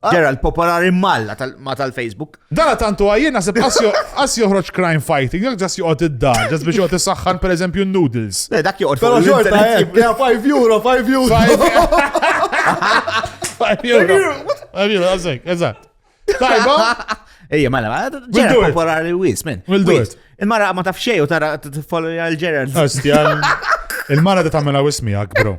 Ah. Ġera l-popolari malla ma tal-Facebook. Dara tantu għajjien nasib għas joħroġ crime fighting, jek ġas joqgħod id-dar, ġas biex joqgħod is-saħħan per eżempju noodles. Le, dak joqgħod. Pero xorta, eh, ja 5 euro, 5 euro. 5 euro. 5 euro, għazek, eżat. Tajba? Ejja, mela, mela ġera popolari wis, men. Il-mara ma tafxej u tara t-follow għal-ġera. Il-mara da tamela wismi għak, bro.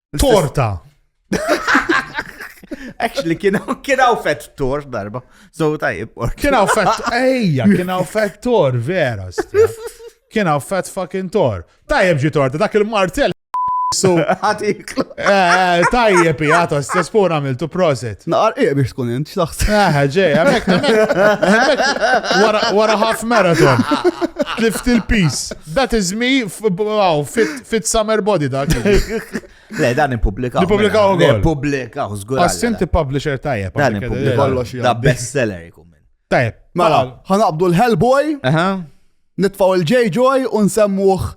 Torta! Actually, kienaw fett tor darba. So tajib. Kienaw fett, ejja, kienaw fett tor, vera. Kienaw fett fucking tor. Tajib ġi torta, dak il-martell. So, għatik. Eh, tajjeb, jgħata, stess pur għamiltu proset. Naqar iq biex tkun int, xlaħs. Eh, ġej, għamek, wara half marathon. Tlift il-peace. That is me, wow, fit Fit summer body dak. Le, dan ippubblikaw. Nippubblikaw mela. ukoll. Nippubblikaw, żgur. Assinti publisher tajjeb. Dan ippubblikaw. Da best seller ikun minn. Tajjeb. Mela, ħanaqbdu l-Hellboy, nitfaw il-J Joy u nsemmuh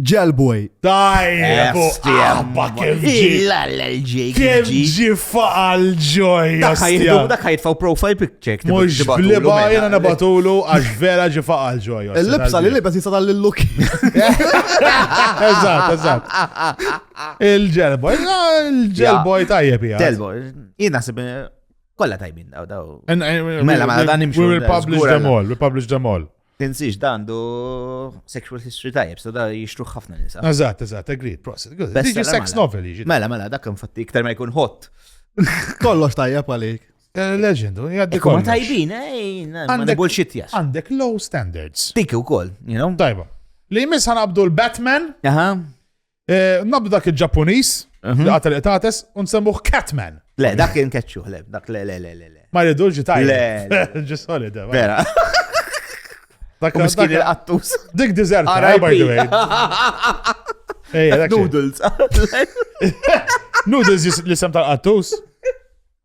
Ġelboy. Tajjeb. Abba kif ġi. Kif ġi faqal ġoj. Dak ħajtfaw profile pic. Mux bliba jena nabatulu għax vera ġifaqa l-ġoja. Il-libsa li libsa jista tal-luk. Eżat, eżat. Il-ġelboj, il-ġelboj tajjeb jgħad. Ġelboj, jina sib kolla tajbin daw daw. Mela, mela, dan imxu. We publish them all, we publish them all. Tinsiex dan du sexual history tajjeb, so da jixtru ħafna nisa. Eżat, eżat, agreed, prosit. Diġi sex mela. novel jiġi. Mela, mela, dak infatti iktar ma jkun hot. Kollox tajjeb għalik. Eh, legend, jaddi kollox. Ma tajbin, eh, ma bullshit jas. Għandek low standards. Dik u koll, you know? Tajba. Li jmiss ħanabdu l-Batman. Aha. Eh, nabdu dak il-Ġapunis, mhm. li għatel etates, unsemmuħ Catman. Le, dak kien keċċu, le, dak le, le, le, le. Ma rridu ġitaj. Le. Ġisoli, da. Vera. Dak miskin il-qattus. Dik dizert, eh, by the way. Noodles. Noodles li sem tal-qattus.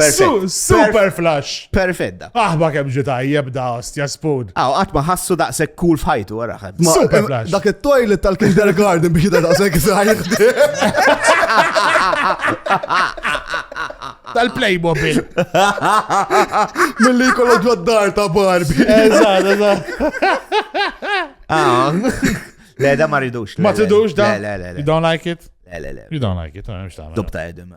Perfett. Super flash. Perfett da. Aħba kemm ġi tajjeb da ostja spoon. Aw, qatt ma ħassu daqshekk cool f'ħajtu wara ħadd. Super flash. Dak it-toilet tal-kindergarten biex da daqshekk sajħ. Tal-Playmobil. Milli jkollok ġoddar ta' Barbie. Eżatt, eżatt. Ah. Le, da ma ridux. Ma tidux da? Le, le, le. You don't like it? Le, le, le. You don't like it, għamx ta' Dubta edem.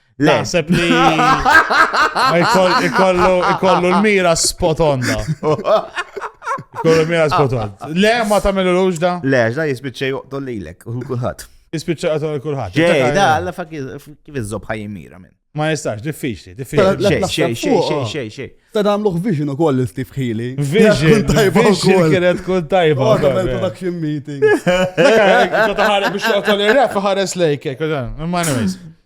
Le. Naħseb li ikollu l-mira spot on da. Ikollu l-mira spot on. Le, ma tamilu l da? Le, da jispicċa juqtol li l-ek, u kullħat. Jispicċa juqtol li kullħat. Ġej, da, għalla fa' kif iżob ħaj mira minn. Ma jistax, diffiċli, diffiċli. Xej, xej, xej, xej, xej. Ta' damluħ vision u koll l-Steve Healy. Vision, tajba u koll. Kienet kun tajba. Oh, Għadam il-production meeting. Kota ħare biex joqtol il-ref ħares lejk, kota. Ma' anyways.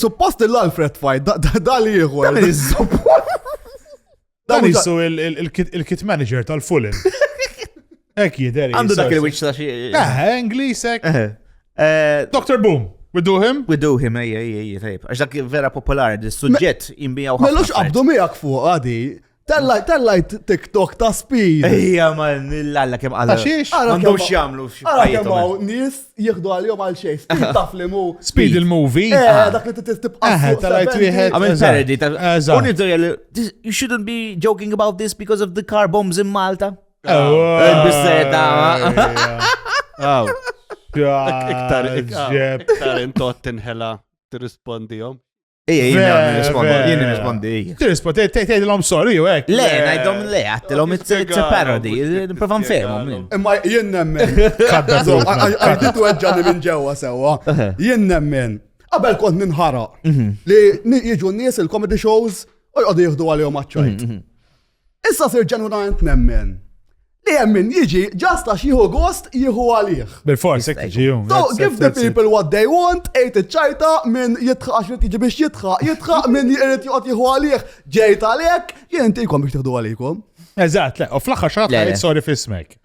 Suppost l-Alfred fight, da li jieħu. Dan jissu il-kit manager tal-Fulham. Ek jideri. Għandu dak il-witch ta' xie. Eh, Inglis ek. Eh, eh, Dr. Boom. We do him? We do him, ej, ej, ej, tajb. Għax dak vera popolari, il-sujġet jimbijaw. Mellux qabdu miegħek fuq għadi. Tellajt, tellajt TikTok ta' speed. Ejja, ma nillalla kem għalla. Għaxiex? Għandhom xjamlu. Għara kem għaw nis jieħdu għal-jom għal xej. Speed taf li mu. Speed il-movie. Eh, ah. dak li t-tibqa. Eh, tellajt wieħed. Għamil parody. Unidrija li, you shouldn't be joking about this because of the car bombs in Malta. Il-bisseta. Għaw. Iktar, iktar, iktar intot tinħela t-rispondijom. Ija, jien nirrispondi, jien nirrispondi. Tirrispondi, tgħidilhom sorry u hekk. Le, ngħidhom le, għattilhom it's a parody, nipprova nfehmhom. Imma jien nemmen. Għajditu għedġani minn ġewwa sewwa. Jien nemmen. Qabel kont ninħara mhm. li jiġu n-nies il-comedy shows u jqogħdu jieħdu għalihom għaċċajt. Mhm, mhm. Issa sir ġenwinament nemmen li hemm min jiġi ġast għax jieħu gost jieħu għalih. Bil-fors, hekk jiġi jum. So give the people what they want, ejt iċ-ċajta minn jitħaq għax irid jiġi biex jitħaq, jitħaq minn irid joqgħod jieħu għalih, ġejt għalhekk, jien intikom biex tieħdu għalikom. Eżatt, le, u fl-aħħar xaħat sorry fismek.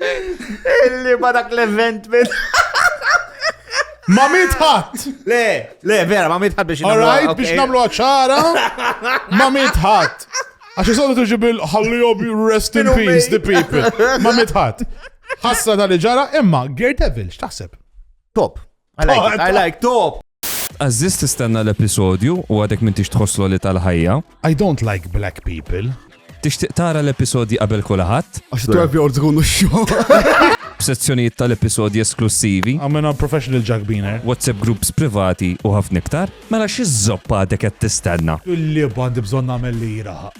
Illi ma dak l-event minn. Ma mitħat! Le, le, vera, ma mitħat biex namlu. Alright, biex namlu ċara, ma mitħat. Għax jisolu tuġi bil ħalli jobi rest in peace the people. Ma mitħat. Ħassa tal ġara, imma Gert Devil, x'taħseb? Top. I like it, I like top! Tqażżiż tistenna l-episodju u għadek m'intix tħoss l-għoli tal-ħajja. I don't like black people. Tixtieq tara l-episodji qabel kulħadd? Għax 12 year olds ikunu x-xogħol. B'sezzjonijiet tal-episodji esklussivi. I'm a professional ġagbiner. WhatsApp groups privati u ħafna iktar. Mela xi żoppa għadek qed tistenna? Il-lieba għandi bżonn nagħmel li jiraħaq.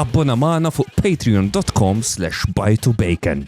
Abbona magħna fuq patreon.com/bajtubacon.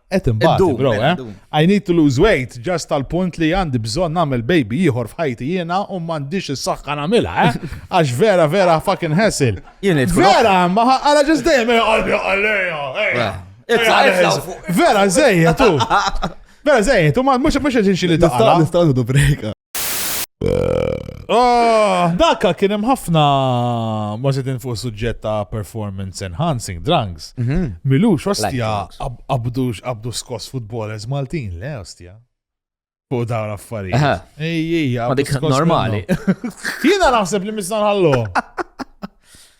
Et imbagħad, bro, eh? I need to lose weight just tal-punt li għandi bżonn nagħmel baby ieħor f'ħajti jiena u m'għandix is-saħħa nagħmilha, eh? Għax vera vera fucking hassle. Vera, ma għala ġest dejjem qalbi għalija. Vera żejjed tu. Vera żejjed tu ma mhux mhux qed inxili taqla. Nistgħu break. Ah, Daka kien hemm ħafna ma xedin fuq suġġett ta' performance enhancing drugs. Mhm. Milux, ostja, drugs. ab- abdu abdu skoss futbolers Maltin, le, ostja. Fuq dawn Aha. affarijiet. Ej, ej, Ma abdu dik skoss normali. minnu. Jiena naħseb li misna nħallu.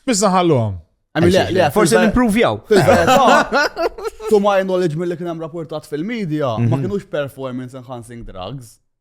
Misna nħalluhom. I mean, le- le, Forse fil-ver- nimprovjaw. fil-verità, To my knowledge mill-li kien hemm rapportat fil-media, ma kienux performance enhancing drugs.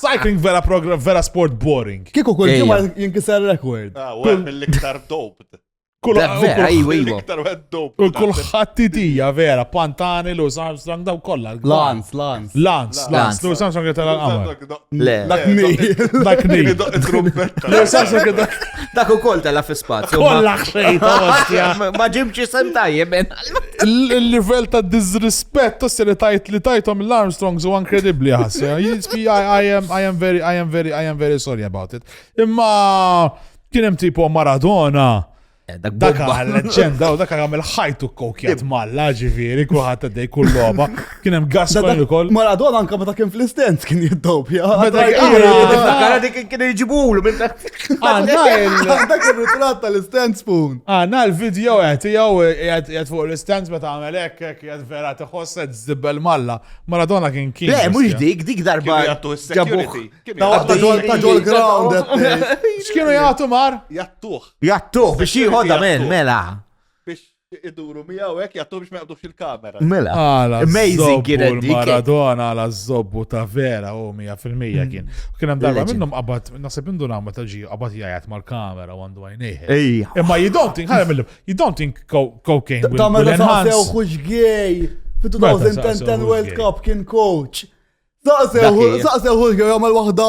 Cycling vera program, vera sport boring. Kiku kull ġimma jinkisar rekord. Ah, u għem l-iktar dope. Kull iktar għed dope. U kull ħattitija vera, Pantani, Lewis Armstrong, daw kolla. Lance, Lance. Lance, Lance. Lewis Armstrong għet għal-għamma. Le. Dak mi. Dak mi. Lewis Armstrong għet Dak u koll tella fi spazju. Kolla xejta. Ma ġimċi sentajje, ben. Il-livell ta' disrispett ossi li tajt li tajtom l-Armstrongs u inkredibbli ħassu. I am I am very I am very I am very sorry about it. Imma kien hemm tipo Maradona. Eh, dak għal-leġenda u dak għamil ħajtu kokjat malla ġifiri kuħat għaddej kull loba. Kien hemm Gascoigne ukoll. Maradona anke meta kien fl-istens kien jiddopja. Meta kien kien iġibulu minn dak. Dak ir-ritratt tal-istens spoon. Għandna l-video qed jew qed fuq l-istens meta għamel hekk hekk qed vera tiħosset żibbel malla. Maradona kien kien. Le mhux dik dik darba. Ġabuh. Ta' ġol ground. X'kienu jagħtu mar? Jattuh. Jattuh biex jieħodha mela. Biex Iduru miegħu hekk jagħtu biex ma jaqbdux il-kamera. Mela. Amazing kien dik. Maradona għala żobbu ta' vera u 100% mm. kien. Kien hemm darba minnhom qabad naħseb indu nagħmel ta' ġiju qabad jgħid mal-kamera għandu għajnejh. Imma you don't think ħalem illum, you don't think cocaine will enhance. Ta' meta sew xux gej. Fit-2010 World Cup kien coach. Saqsew, saqsew, għamal wahda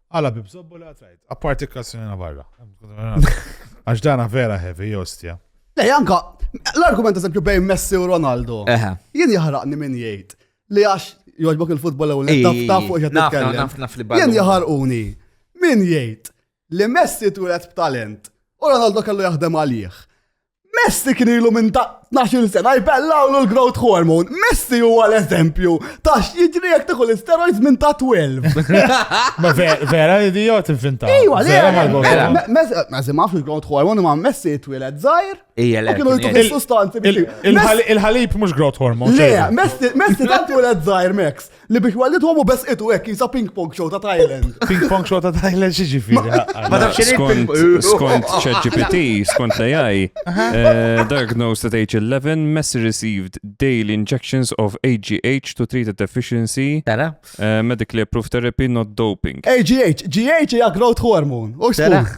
Għala bi bżobbu li għatrajt, apparti kassina barra. Għax dana vera heavy, jostja. Le, janka, l-argument eżempju bejn Messi u Ronaldo. Jien jahraqni minn jgħid li għax joġbok il-futbol u l-taf taf fuq jgħid nitkellem. Jien jahrquni minn jgħid li Messi turet b'talent u Ronaldo kellu jaħdem għalih. Messi kien ilu minn ta' 12 sena jbellaw l-growth hormone. Messi huwa l-eżempju ta' x'jiġri jekk tieħu l-steroids minn ta' 12. Ma vera idiot infinta. Ejwa, le, Messi ma fil growth hormone ma Messi twiled żgħir. Ejja, le. Kienu jtu sustanzi biex. Il-ħalib mhux growth hormone. Le, Messi tant twiled żgħir Max. Li biex wallidhom u besqitu hekk jisa ping pong show ta' Thailand. Ping pong show ta' Thailand xi ġifieri. Ma tafx xi Skont, skont ChatGPT, skont l-AI, eh, diagnosed at age 11, Messi received daily injections of AGH to treat a deficiency, Tara? eh, medically approved therapy, not doping. AGH, GH hija growth hormone. U x'tkun? Taraħ.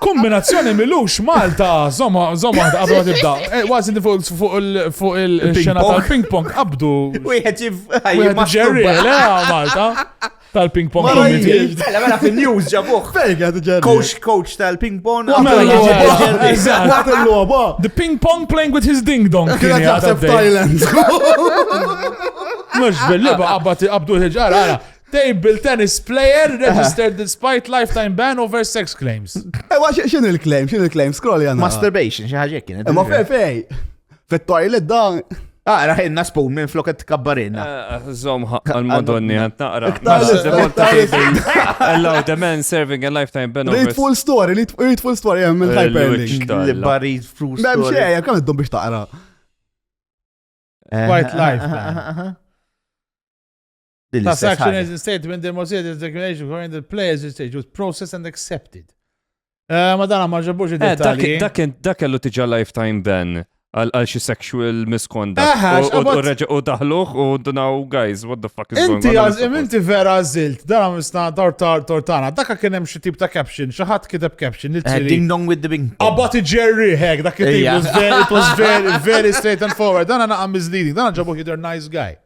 Kombinazzjoni milux Malta, zoma, zoma, għabdu għad ibda. Eh, Wazi fuq il-xena tal-ping pong, għabdu. Wieħed jibda. Ġerri, le, Malta. Tal-ping pong. Mela, mela, mela fil-news ġabuħ. Coach, coach tal-ping pong. The ping pong playing with his ding dong. Kien jaħseb Thailand. Mux bil-liba, għabdu il-ġara, għara. Table tennis player registered despite lifetime ban over sex claims. Ewa, eh, xin il-claim, xin il-claim, scroll jana. Masturbation, xi ħaġa kien. Ma fej fej. Fit-toilet dan. Ah, raħinna spoon minn floket kabbarina. Eh, zom għal-madonni għant naqra. Allow the man serving a lifetime ban over. Read full story, read full story, għem eh, il-hyperlink. Read full story. Mem xeja, kam id-dum biex taqra. Quite life. Class action is stated when the motion is declaration for the players is stated was processed and accepted. Eh, ma dan ma ġabux eh, id-dettalji. Dak kellu tiġa lifetime ban għal xi sexual misconduct. Eh, u daħluħ u dunaw, guys, what the fuck is going on? Inti għazim, inti vera għazilt, dan misna tortar tortana, dakka kien hemm xi tip ta' caption, xi ħadd kiteb caption li tiri. Ding dong with the bing. About Jerry hek, dak it was very, very straight and forward. Dan għana għam misleading, dan ġabu jidher nice guy.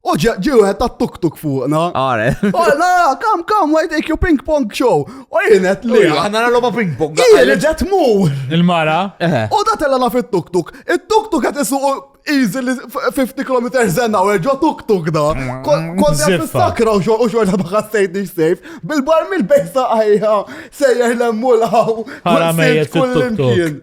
U ġew għed ta' tuk-tuk fuqna. Għare. U la, kam, kam, why take you ping pong show? U jienet li. Għanna l-loba ping pong. Għire ġet mur. Il-mara. U da tella la fit tuk-tuk. Il-tuk-tuk għet isu easily 50 km zenna u ġo tuk-tuk da. Kont għet sakra u xorta ma ħassejt nix sejf. Bil-bar mill-bejsa għajja sejjer l-emmulħaw. Għara mejjet fit-tuk-tuk.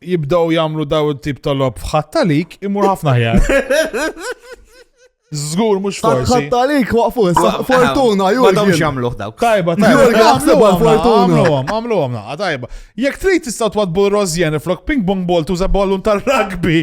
jibdaw jamlu daw il-tip tal-lob f'ħattalik imur ħafna ħjar. Zgur, mux forsi. Ħattalik waqfu, fortuna, ju. Għadam xamluħ dawk. Tajba, tajba. Għamlu għam, għamlu għam, tajba. Jek trid tistaw twadbu l-rozjen, flok ping pong ball tuża ballun tal-rugby.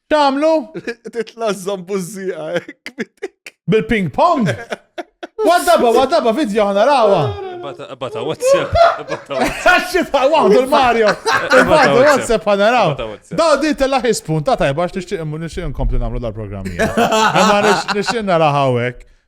Tamlu? Titla zambuzzija, kmitik. Bil-ping pong? Waddaba, waddaba, video ħana rawa. Bata WhatsApp. Saxxi ta' waħdu l-Mario. Bata WhatsApp ħana rawa. Da di tella ħispun ta' tajba għax nixtieq nixtieq nkompli nagħmlu dal-programmi. Ma nixtieq nara hawnhekk.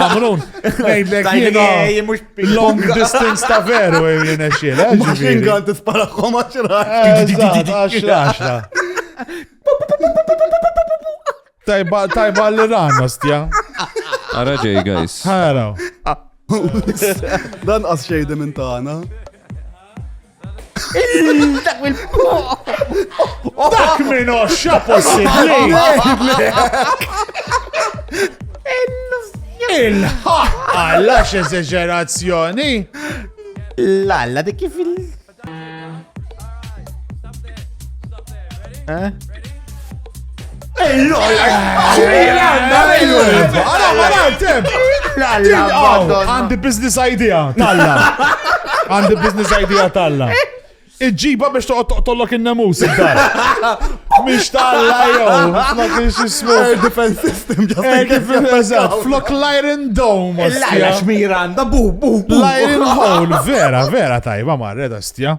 Kamrun, ngħidlek jiena long distance ta' veru jien xil. Machine gun tisparakom għaxra. Għaxra, għaxra. Tajba, tajba l-Iran, ostja. Ara ġej, guys. Haraw. Dan qas xejde minn tagħna. Dak minn oxxa possibbli. Il-ħaqqa l-għax eżeġerazzjoni. L-alla dik kif il- Eh? Għandi business idea, talla. Għandi business idea, talla. Iġġiba biex toqgħod tollok in-namus id-dar. Mhix talla jew, ma kienx ismu. Air defense system ġast. Air defense eżatt, flok l-iron dome. L-iron xmira għandha bu bu. L-iron hole, vera, vera tajba marred astja.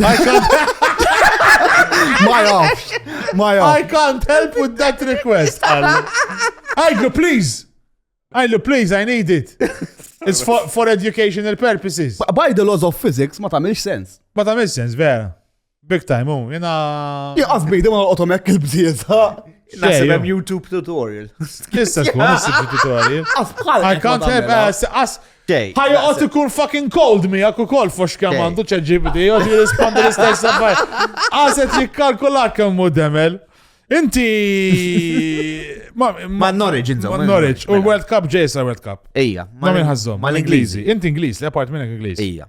I can't I can't help with that request. Għajlu, please. Għajlu, please, I need it. It's for, for educational purposes. By the laws of physics, ma tamilx sens. Ma tamilx sens, vera. Big time, oh, jena. Jaqas bidi ma l-otomek il-bżieta. Nasib hemm YouTube tutorial. Issa tkun YouTube tutorial. I can't help, as, as, Xej. Ħa joqgħod ikun fucking cold miegħek ukoll fux kemm għandu ċeġibdi, joqgħod jirrispondi l-istess affar. Għażet jikkalkulak kemm hu demel. Inti. Ma Norwich, inżom. Ma Norwich, u mela. World Cup ġejsa World Cup. Ija. Ma minn ħazzom. Ma l-Ingliżi. Inti Ingliż, li apart minnek Ingliż. Ija.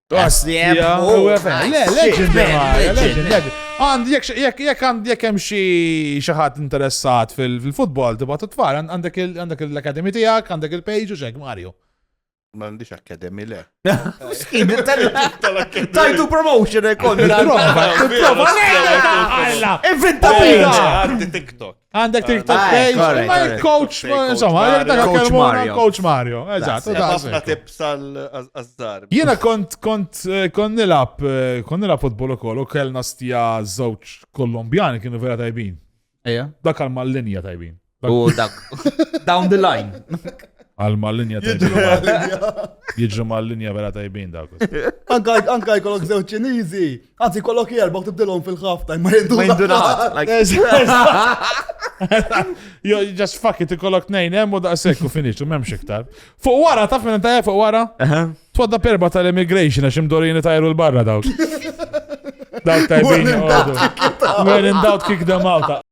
Għasdiem. Le, legend, legend. Għand, jek għand, jek hemm xi xaħat interessat fil-futbol, tibgħa titfar, għandek l-akademi tiegħek, għandek il-page u xek, Mario. Ma għandix akademi le. Tajtu promotion ekon. Prova, prova, Evita fina. Għaddi TikTok. Għandek TikTok page, imma il-coach, insomma, coach Mario. Coach Mario, eżatt. Għafna tips għal-azzar. Jena kont, kont, eh, kont nilab, eh, kont nilab futbol u koll, u kellna stja zoċ kolombjani kienu vera tajbin. Eja. Dak għal mal-linja tajbin. U dak, down the line. Għal mal-linja tajbin. Jidġu mal-linja vera tajbin dak. Anka jkollok zewċ ċinizi. Anzi, kollok jerba u tibdilhom fil-ħafta, ma jindu. Ma jindu Jo, just fuck it, kollok nejn, hemm u daqshekk u finix, u m'hemmx iktar. Fuq wara, taf minn tajja fuq wara? Twadda perba tal-immigration għax imdorin tajru l-barra dawk. Dawk tajbin. When in doubt, kick them out.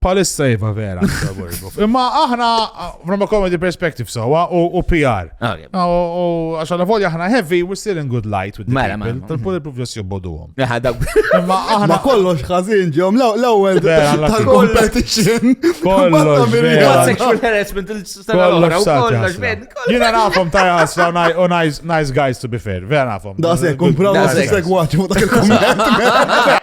Palissa jiva vera, imma aħna, from a comedy perspective, so, u PR. Ah, u għaxa la volja aħna heavy, we're still in good light with the mela, people. Mela. Tal-poli profjos jobbodu għom. Imma aħna kollox ħazin ġom, l-ewel tal-competition. Kollox vera. Jina nafom tajas, u nice guys to be fair, vera nafom. Da se, kumpraw, se, se, gwaċu, dak il-komment.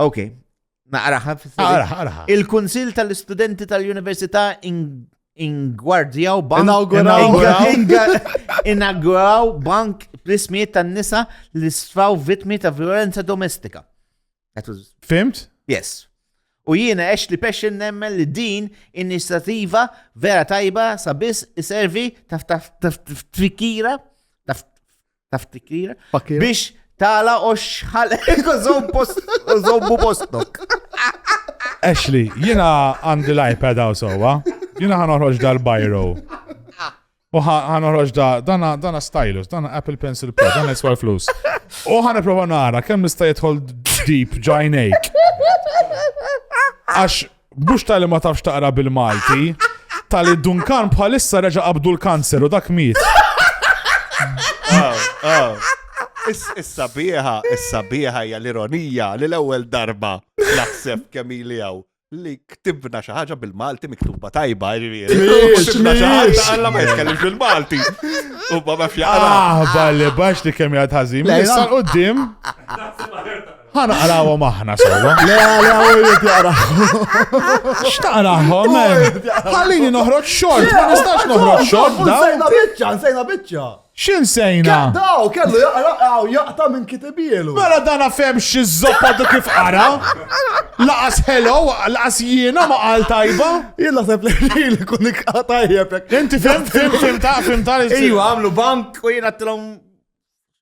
Ok, naqraħa fis-sena. Il-Kunsil tal-Istudenti tal-Università ingwardjaw bank. Inauguraw bank bl-ismijiet tan-nisa li sfaw vitmi ta' violenza domestika. Fimt? Yes. U jiena ex li pesċin nemmen li din inizjativa vera tajba sabis iservi taf taf taf tfikira taf Taf tikkira? Biex tala u xħal zombu postok. Ashley, jina għandi l-iPad għaw sowa, jina ħanoħroġ dal-bajro. U ħanoħroġ da, dana, dana stylus, dana Apple Pencil Pro, dana jiswa flus. U ħan prova nara, kemm nista jitħol deep ġajnejk. Għax Mhux tali ma tafx taqra bil-Malti, tali Dunkan bħalissa reġa' qabdu l-kanser u dak miet. Issa biħa, issa biħa hija l-ironija li l-ewwel darba naħseb kemm ili hawn li ktibna xi ħaġa bil-Malti miktuba tajba, ġifieri. Ktibna xi ħaġa għalla ma jitkellem bil-Malti. U baba fjara. Ah, balli bax li kemm jgħad ħażin. Issa qudiem. Ħa naqrawhom aħna sewwa. Le le għawriet jaqrawhom. X'taqrahom hemm? Ħallini noħroġ xogħol, ma nistax noħroġ xogħol dawn. Sejna biċċa, sejna biċċa. X'in sejna? Daw kellu jaqra għaw jaqta' minn kitibielu. Mela dana fem xi żoppa du kif qara. Laqas hello, laqas jiena ma qal tajba. Jien naħseb li li kun ikqatajjeb. Inti fim fim fim ta' fim ta' Iwa għamlu bank u jiena tilhom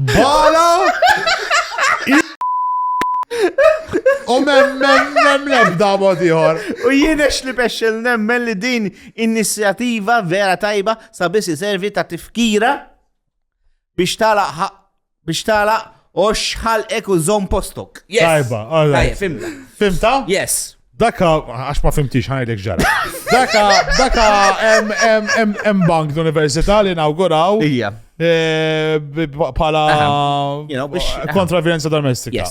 Bala! U mem, mem, mem, lebda mod ieħor. U jien ex li bexxel nemmen li din inizjattiva vera tajba sabiex iservi ta' tifkira biex talaq ħaq- biex talaq u xħalqek u zom postok. Yes. Tajba, all right. Tajjeb, fimna. Fimta? Yes. Daka, għax ma fimtix ħanajdlek ġara. Daka, daka, em bank l-Università li inauguraw. Ija. Eh, pala kontra violenza domestika.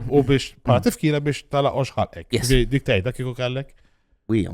U biex, pala tifkira biex tala oxħalek. Dik tajda kiku kallek? Wija.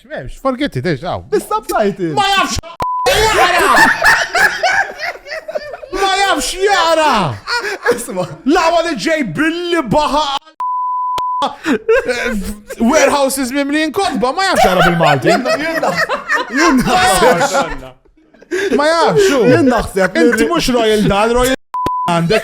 Memx, forget it, eġ, għaw. Is-subtitles! Ma jafx jaqra! Ma jafx jaqra! Isma! Lawa li ġej billi baħa Warehouses mimlin kodba, ma jafx jaqra bil-Malti. Ma jafx, xu. Jien naħseb. Inti mux Royal Dal, Royal għandek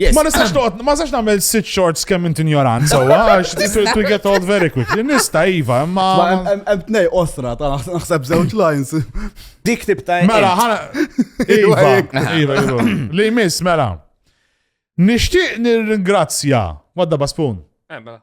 Yes. Ma nistax toqgħod, ma nistax nagħmel sit shorts kemm int injorant sewwa għax this will to get old very quickly. Nista' iva, imma Ma hemm- hemm hemm tnej osra ta' naħs- naħseb żewġ lines. Dik tip ta' Mela, ħana. Iva, iva, iva. Li jmiss, mela. Nixtieq nirringrazzja. Wadda Baspun. Eh, mela.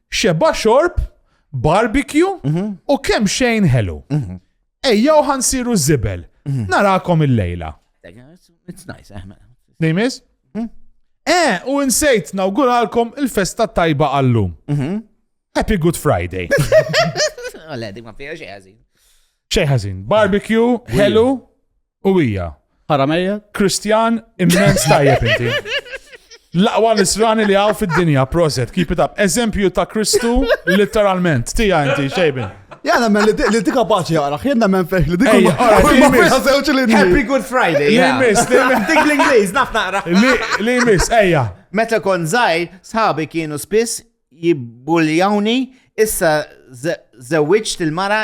Xeba xorb, barbecue mhm. u kemm xejn ħelu. Mhm. Ejja u ħansiru zibel. Mhm. Narakom il-lejla. It's nice, eh, Nejmis? Eh, u insejt nawguralkom il-festa tajba għallum. Happy Good Friday. Għaledi, ma fija xejħazin. Xejħazin. Barbecue, ħelu, U hija. Ħaramejja. Kristjan immens tajjeb inti. Laqwa nisrani li għaw fid-dinja, proset, keep it up. Eżempju ta' Kristu, literalment, tija inti, xejbin. Jana men li di kapaċi għara, jena men feħ li di kapaċi. Happy Good Friday. Li miss, li miss. Dik l-Inglis, naf naqra. Li miss, eja. Meta kon zaħi, sħabi kienu spiss jibbuljawni, issa zewċt il-mara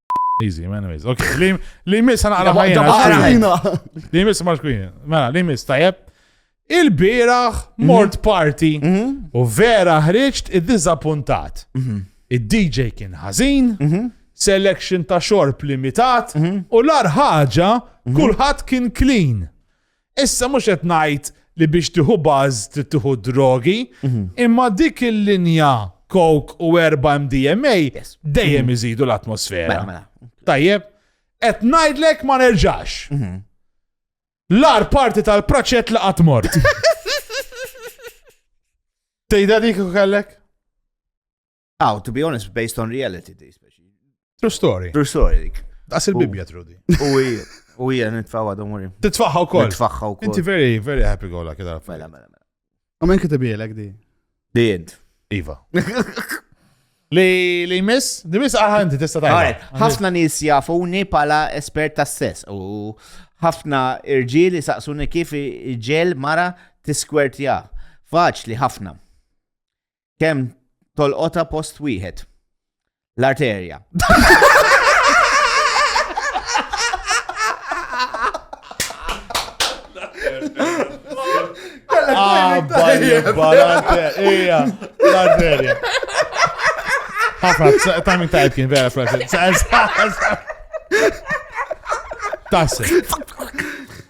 Easy, man, easy. Ok, li li jmiss għana għala ħajna. Ħajna! Li jmiss ma xkwin. Mela, li jmiss tajjeb. Il-biraħ Mhm. mort party u vera ħriġt id-dizappuntat. Mhm. Id-DJ kien ħażin, selection ta' xorb limitat Mhm. u l-ar ħaġa kulħadd kien clean. Issa mhux qed ngħid li biex tieħu buzz trid tieħu d-drogi, imma dik il-linja coke u erba' MDMA dejjem iżidu l-atmosfera. Mela, mela. Tajjeb, qed ngħidlek ma nerġax. Mhm. L-ar parti tal-praċet li qatt mort. Tejda dik u kellek? Aw, to be honest, based on reality di speċi. True story. True story dik. Daqs il-Bibja trudi. U hija, u hija nitfawa don't worry. Titfaħħa wkoll. Nitfaħħa wkoll. Inti very, very happy gola kida. Mela, mela, mela. U minn kitibielek di? Di int. Iva. Li li miss, di miss aħanti ah, tista' tajba. Ħafna nies jafuni pala espert tas-sess u ħafna irġieli saqsuni kif ġel mara tiskwertja. Faċli ħafna. Kem tolqota post wieħed. L-arterja. Ah, balja, balja, ija, l-arterja. Ħafna, ta' minn tajt kien vera frażi. Tassi.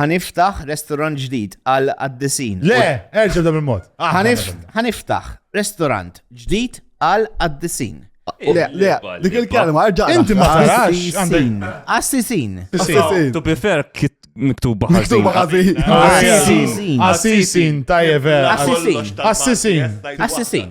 Ħaniftaħ restorant ġdid għal qaddisin. Le, erġa' b'dan il-mod. Ħaniftaħ restorant ġdid għal qaddisin. Le, le, dik il-kelma, erġa'. Inti ma tarax. Assisin. Assisin. Assisin. To be fair, kit miktuba ħażin. Miktuba ħażin. Assisin. Assisin, tajjeb. Assisin. Assisin. Assisin.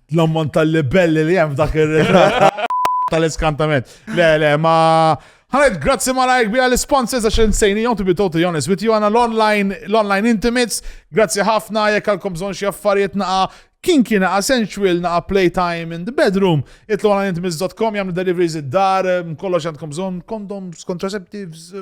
L-ammont tal-libelli li hemm dak ir-ritratt tal-iskantament. Le, le, ma. Ħanet, grazzi ma lajk bija l-sponsors għax insejni jom to be totally honest with you għana l-online, l-online intimates, grazzi ħafna jek għalkom bżon xie affarijiet naqa kien kien naqa sensual naqa playtime in the bedroom, itlu għana intimates.com jgħamlu deliveries id-dar, kollox għandkom bżon, condoms, contraceptives,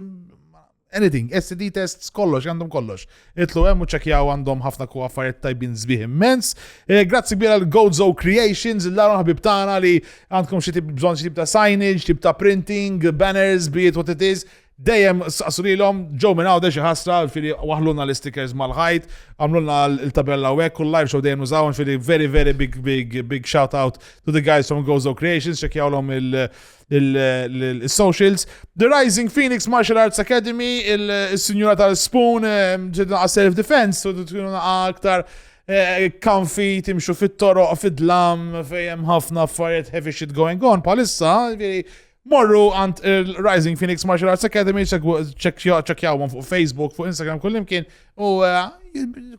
Anything, STD tests, kollox, għandhom kollox. Itlu hemm u ċekjaw għandhom ħafna ku affarijiet tajbin zbieħ immens. Eh, grazzi kbira l Gozo Creations, l-għaru ħabib tagħna li għandkom xi tip bżonn xi tip ta' signage, tip ta' printing, banners, biet what it is. Dejjem saqsu lilhom ġew minn għawda xi ħasra fili waħlulna l-stickers mal-ħajt, għamlulna l-tabella u hekk u l-live show dejjem nużawhom fili very very big big big shout out to the guys from Gozo Creations, ċekjawlhom il- uh, il-socials. The Rising Phoenix Martial Arts Academy, il-Sinjura tal-Spoon, ġedna għas self-defense, u tkunu aktar kanfi eh, timxu fit-toroq, fid-dlam, fejem ħafna affarijiet heavy shit going on, palissa, morru għand il-Rising Phoenix Martial Arts Academy, ċekjawhom fuq Facebook, fuq Instagram, kullimkien, u eh,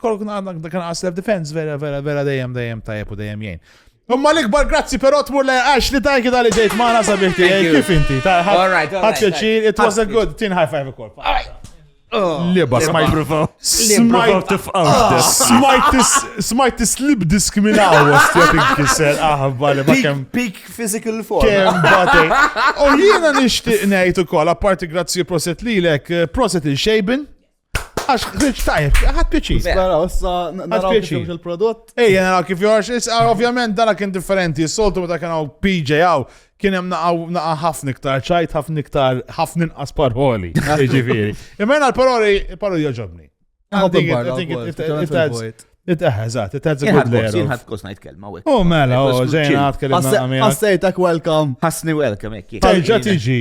kolkun għandna kan self-defense, vera, vera, vera, dejjem, dejjem, tajjeb u dejjem jgħin. Imma l-ikbar grazzi però tmur lej għax li tanki tal-li ġejt maħna sabiħ tiegħi kif inti. Ħadd pjaċir, it was a good, tin high five ukoll. Oh. Liba, smajt. Smajt tifqaw. Ah. Smajt tislib diskminaw għastja tinkisel aħba li bakem. Peak physical form. Kem bati. U jiena nishtiq nejt u kol, apparti grazzi proset li lek, eh, proset il-xejbin. Għax ħriġ tajb, ħadd piċi. Spera, issa naraw kif jimx il-prodott. Ej, naraw kif jorx, issa ovvjament dara kien differenti. Soltu meta kien hawn PJ hawn, kien hemm naqa' ħafna iktar ċajt, ħafna iktar ħafna inqas paroli. Ġifieri. Imma jena l-paroli, paroli joġobni. It-eħeżat, it-eħeżat. Jien ħad kos najt kelma u. Oh, mela, oh, ġejna għad kelma. Ħassejtak welcome. Ħassni welcome, ekki. Terġa tiġi.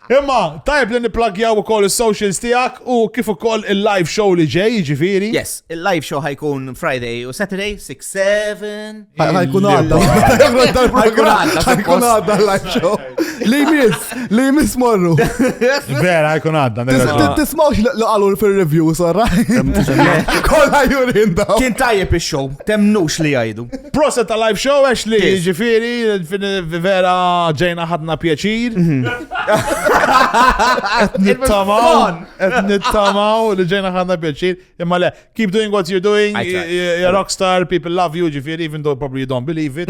Imma tajjeb li nipplagjaw ukoll is-socials tiegħek u kif ukoll il-live show li ġej, jiġifieri. Yes, il-live show ħajkun Friday u Saturday 6-7. Ħajkun għadda. Ħajkun għadda. Ħajkun għadda l-live show. Li jmiss, li jmiss morru. Vera, ħajkun għadda. Tismawx li qalu fil-review, sorra. Kolla jurin daw. Kien tajjeb il-show. Temnux li jajdu. Proset ta' live show għax li ġifiri, vera ġejna ħadna pjaċir. Mhm. Et nittamaw, et nittamaw li ġejna ħadna pjaċir. Imma le, keep doing what you're doing, you're a rockstar, people love you, ġifiri, even though probably you don't believe it.